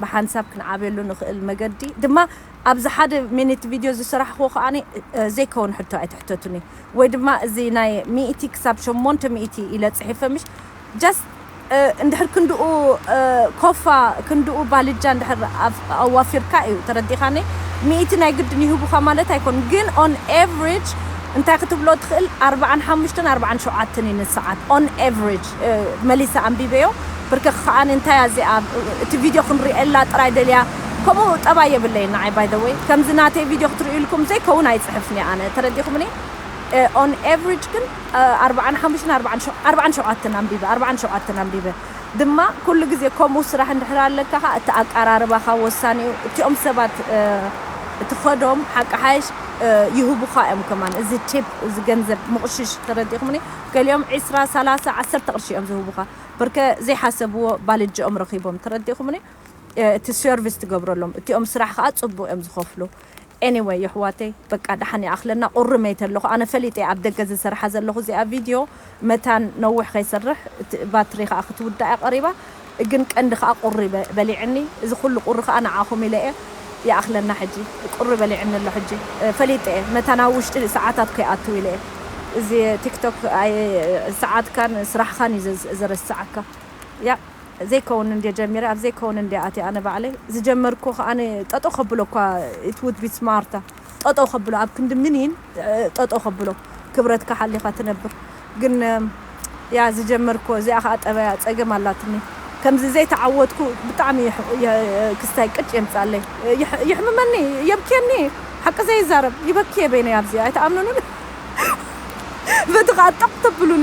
ብሓንሳብ ክንዓብየሉ ንኽእል መገዲ ድማ ኣብዚ ሓደ ሚኒት ቪድዮ ዝሰራሕክዎ ከኣ ዘይከውን ሕቶ ኣይትሕተቱኒ ወይ ድማ እዚ ናይ ሚእቲ ክሳብ ሸሞንተ ሚእቲ ኢለ ጽሒፈ ምሽ just እንድሕር ክንድኡ ኮፋ ክንድኡ ባልጃ እንድሕር ኣዋፊርካ እዩ ተረዲኻኒ ሚእቲ ናይ ግድን ይህቡኻ ማለት ኣይኮን ግን on average እንታይ ክትብሎ ትኽእል ኣርብዓን ሓሙሽተን ኣርብዓን ሸውዓተን እዩ ንሰዓት on average መሊሰ ኣንቢበዮ ብርክክ ከኣ እንታይ እያ እዚኣ እቲ ቪድዮ ክንሪኤላ ጥራይ ደልያ ከምኡ ጠባይ የብለይን ንዓይ by the way ከምዚ ናተይ ቪድዮ ክትሪኡልኩም ዘይከውን ኣይጽሕፍን'የ ኣነ ተረዲእኩምኒ on average ግን ኣርብዓን ሓሙሽተን ኣርብዓን ሸው ኣርብዓን ሸውዓተን ኣንቢበ ኣርብዓን ሸውዓተን ኣንቢበ ድማ ኩሉ ግዜ ከምኡ ስራሕ እንድሕር ኣለካ ከኣ እቲ ኣቀራርባኻ ወሳኒ'ዩ እቲኦም ሰባት እትኸዶም ሓቂ ሓይሽ ይህቡኻ እዮም ከማን እዚ ቲፕ እዚ ገንዘብ ምቕሽሽ ተረዲእኩምኒ ገሊኦም ዕስራ ሰላሳ ዓሰርተ ቅርሺ እዮም ዝህቡኻ ብርከ ዘይሓሰብዎ ባልጀኦም ረኺቦም ተረዲእኹምኒ እቲ ሰርቪስ ትገብረሎም እቲኦም ስራሕ ኸኣ ጽቡቅ እዮም ዝኸፍሉ Anyway የሕዋተይ በቃ ደሓን ይኣኽለና ቁሪ መይተ ኣለኹ ኣነ ፈሊጠ እየ ኣብ ደገ ዝሰርሓ ዘለኹ እዚኣ ቪድዮ መታን ነዊሕ ከይሰርሕ ባትሪ ኸኣ ክትውዳእ እያ ቀሪባ ግን ቀንዲ ከኣ ቁሪ በሊዕኒ እዚ ኩሉ ቁሪ ከኣ ንዓኹም ኢለ እየ ይኣኽለና ሕጂ ቁሪ በሊዕኒ ኣሎ ሕጂ ፈሊጠ እየ መታን ኣብ ውሽጢ ሰዓታት ከይኣትው ኢለ እየ እዚ ቲክቶክ ኣይ ሰዓትካን ስራሕኻን እዩ ዘረስዓካ ያእ ዘይከውን እንድየ ጀሚረ ኣብ ዘይከውን እንድየ ኣትየ ኣነ ባዕለይ ዝጀመርክዎ ከኣ ጠጠው ከብሎ እኳ ኢት ውድ ቢ ስማርት ጠጠው ከብሎ ኣብ ክንዲ ምኒን ጠጠው ከብሎ ክብረትካ ሓሊኻ ትነብር ግን እያ ዝጀመርኩዎ እዚኣ ከኣ ጠበያ ጸገም ኣላትኒ ከምዚ ዘይተዓወትኩ ብጣዕሚ ክስታይ ቅጭ የምጽኣለይ የሕምመኒ የብክየኒ ሓቂ ዘይዛረብ ይበክየ በይነይ ኣብዚ ኣይትኣምኑንን በቲ ከኣ ጠቅ ተብሉኒ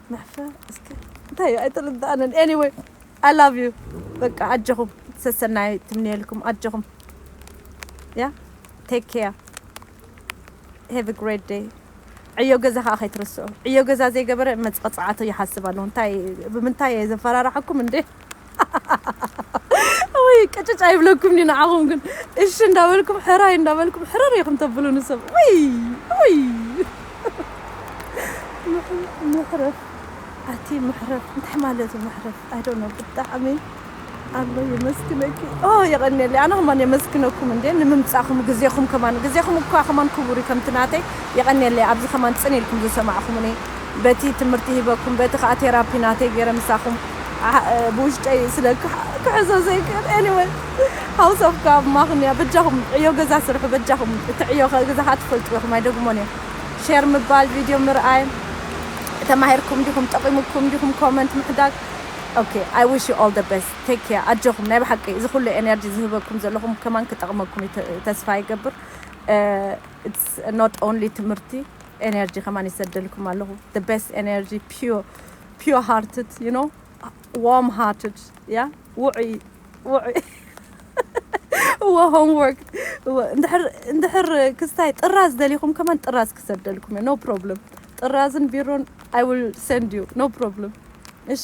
ምሕፈር እስከ እንታይ እዩ ኣይተረድኣንን ኤኒወይ ኣይ ላቭ ዩ በቃ ኣጀኹም ሰሰናይ ትምንየልኩም ኣጀኹም ያ ቴክ ኬር ሄቭ ግሬት ደይ ዕዮ ገዛ ከዓ ከይትርስዑ ዕዮ ገዛ ዘይገበረ መፅቐፅዓቱ ይሓስብ ኣለዎ እንታይ ብምንታይ እየ ዘፈራርሓኩም እንዴ ወይ ቅጭጭ ኣይብለኩም ኒ ንዓኹም ግን እሺ እንዳበልኩም ሕራይ እንዳበልኩም ሕረር ኢኹም ተብሉ ንሰብ ወይ ወይ ምሕረፍ ኣቲ ምሕረፍ እንታይ ማለት እዩ ምሕረፍ ኣይ ዶንት ኖ ብጣዕሚ ኣሎ የመስግነኪ ኦ የቐንየለይ ኣነ ከማን የመስግነኩም እንዴ ንምምጻኹም ግዜኹም ከማን ግዜኹም እኳ ከማን ክቡር እዩ ከምቲ ናተይ የቐንየለይ ኣብዚ ከማን ጽን ኢልኩም ዝሰማዕኹምኒ በቲ ትምህርቲ ሂበኩም በቲ ከኣ ቴራፒ ናተይ ጌረ ምሳኹም ብውሽጠይ ስለ ክሕዞ ዘይክእል anyway house of ካብ ማክንያ በጃኹም ዕዮ ገዛ ስርሑ በጃኹም እቲ ዕዮ ገዛኻ ትፈልጥዎ ኢኹም ኣይደግሞን እየ ሼር ምባል ቪድዮ ምርኣይ ተማሂርኩም ዲኹም ጠቒሙኩም ዲኹም ኮመንት ምሕዳግ ኦኬ ኣይ ዊሽ ዩ ኦል ደ ቤስት ቴክ ኬር ኣጆኹም ናይ ብሓቂ እዚ ኩሉ ኤነርጂ ዝህበኩም ዘለኹም ከማን ክጠቕመኩም ተስፋ ይገብር ኢትስ ኖት ኦንሊ ትምህርቲ ኤነርጂ ከማን ይሰደልኩም ኣለኹ the best energy pure pure hearted you know warm hearted yeah ውዑይ ውዑይ እወ ሆምወርክ እወ እንድሕር እንድሕር ክስታይ ጥራዝ ደሊኹም ከማን ጥራዝ ክሰደልኩም እየ ኖ ፕሮብለም ጥራዝን ቢሮን ኣይ ዊል ሰንድ ዩ ኖ ፕሮብለም እሺ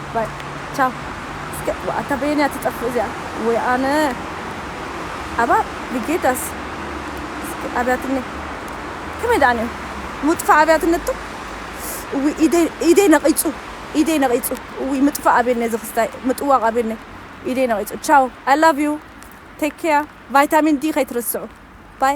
ባይ ቻው እስከ ኣታ በየን እያ ትጠፍእ እዚኣ ወይ ኣነ ኣባ ብጌታስ እስኪ ኣብያትኒ ከመይ ደኣ ኔሩ ምጥፋእ ኣብያትነቶ እውይ ኢደይ ኢደይ ነቂጹ ኢደይ ነቂጹ እውይ ምጥፋእ ኣብየነይ እዚ ክስታይ ምጥዋቅ ኣብየነይ ኢደይ ነቂጹ ቻው ኣይ ላቭ ዩ ቴክ ኬር ቫይታሚን ዲ ከይትርስዑ ባይ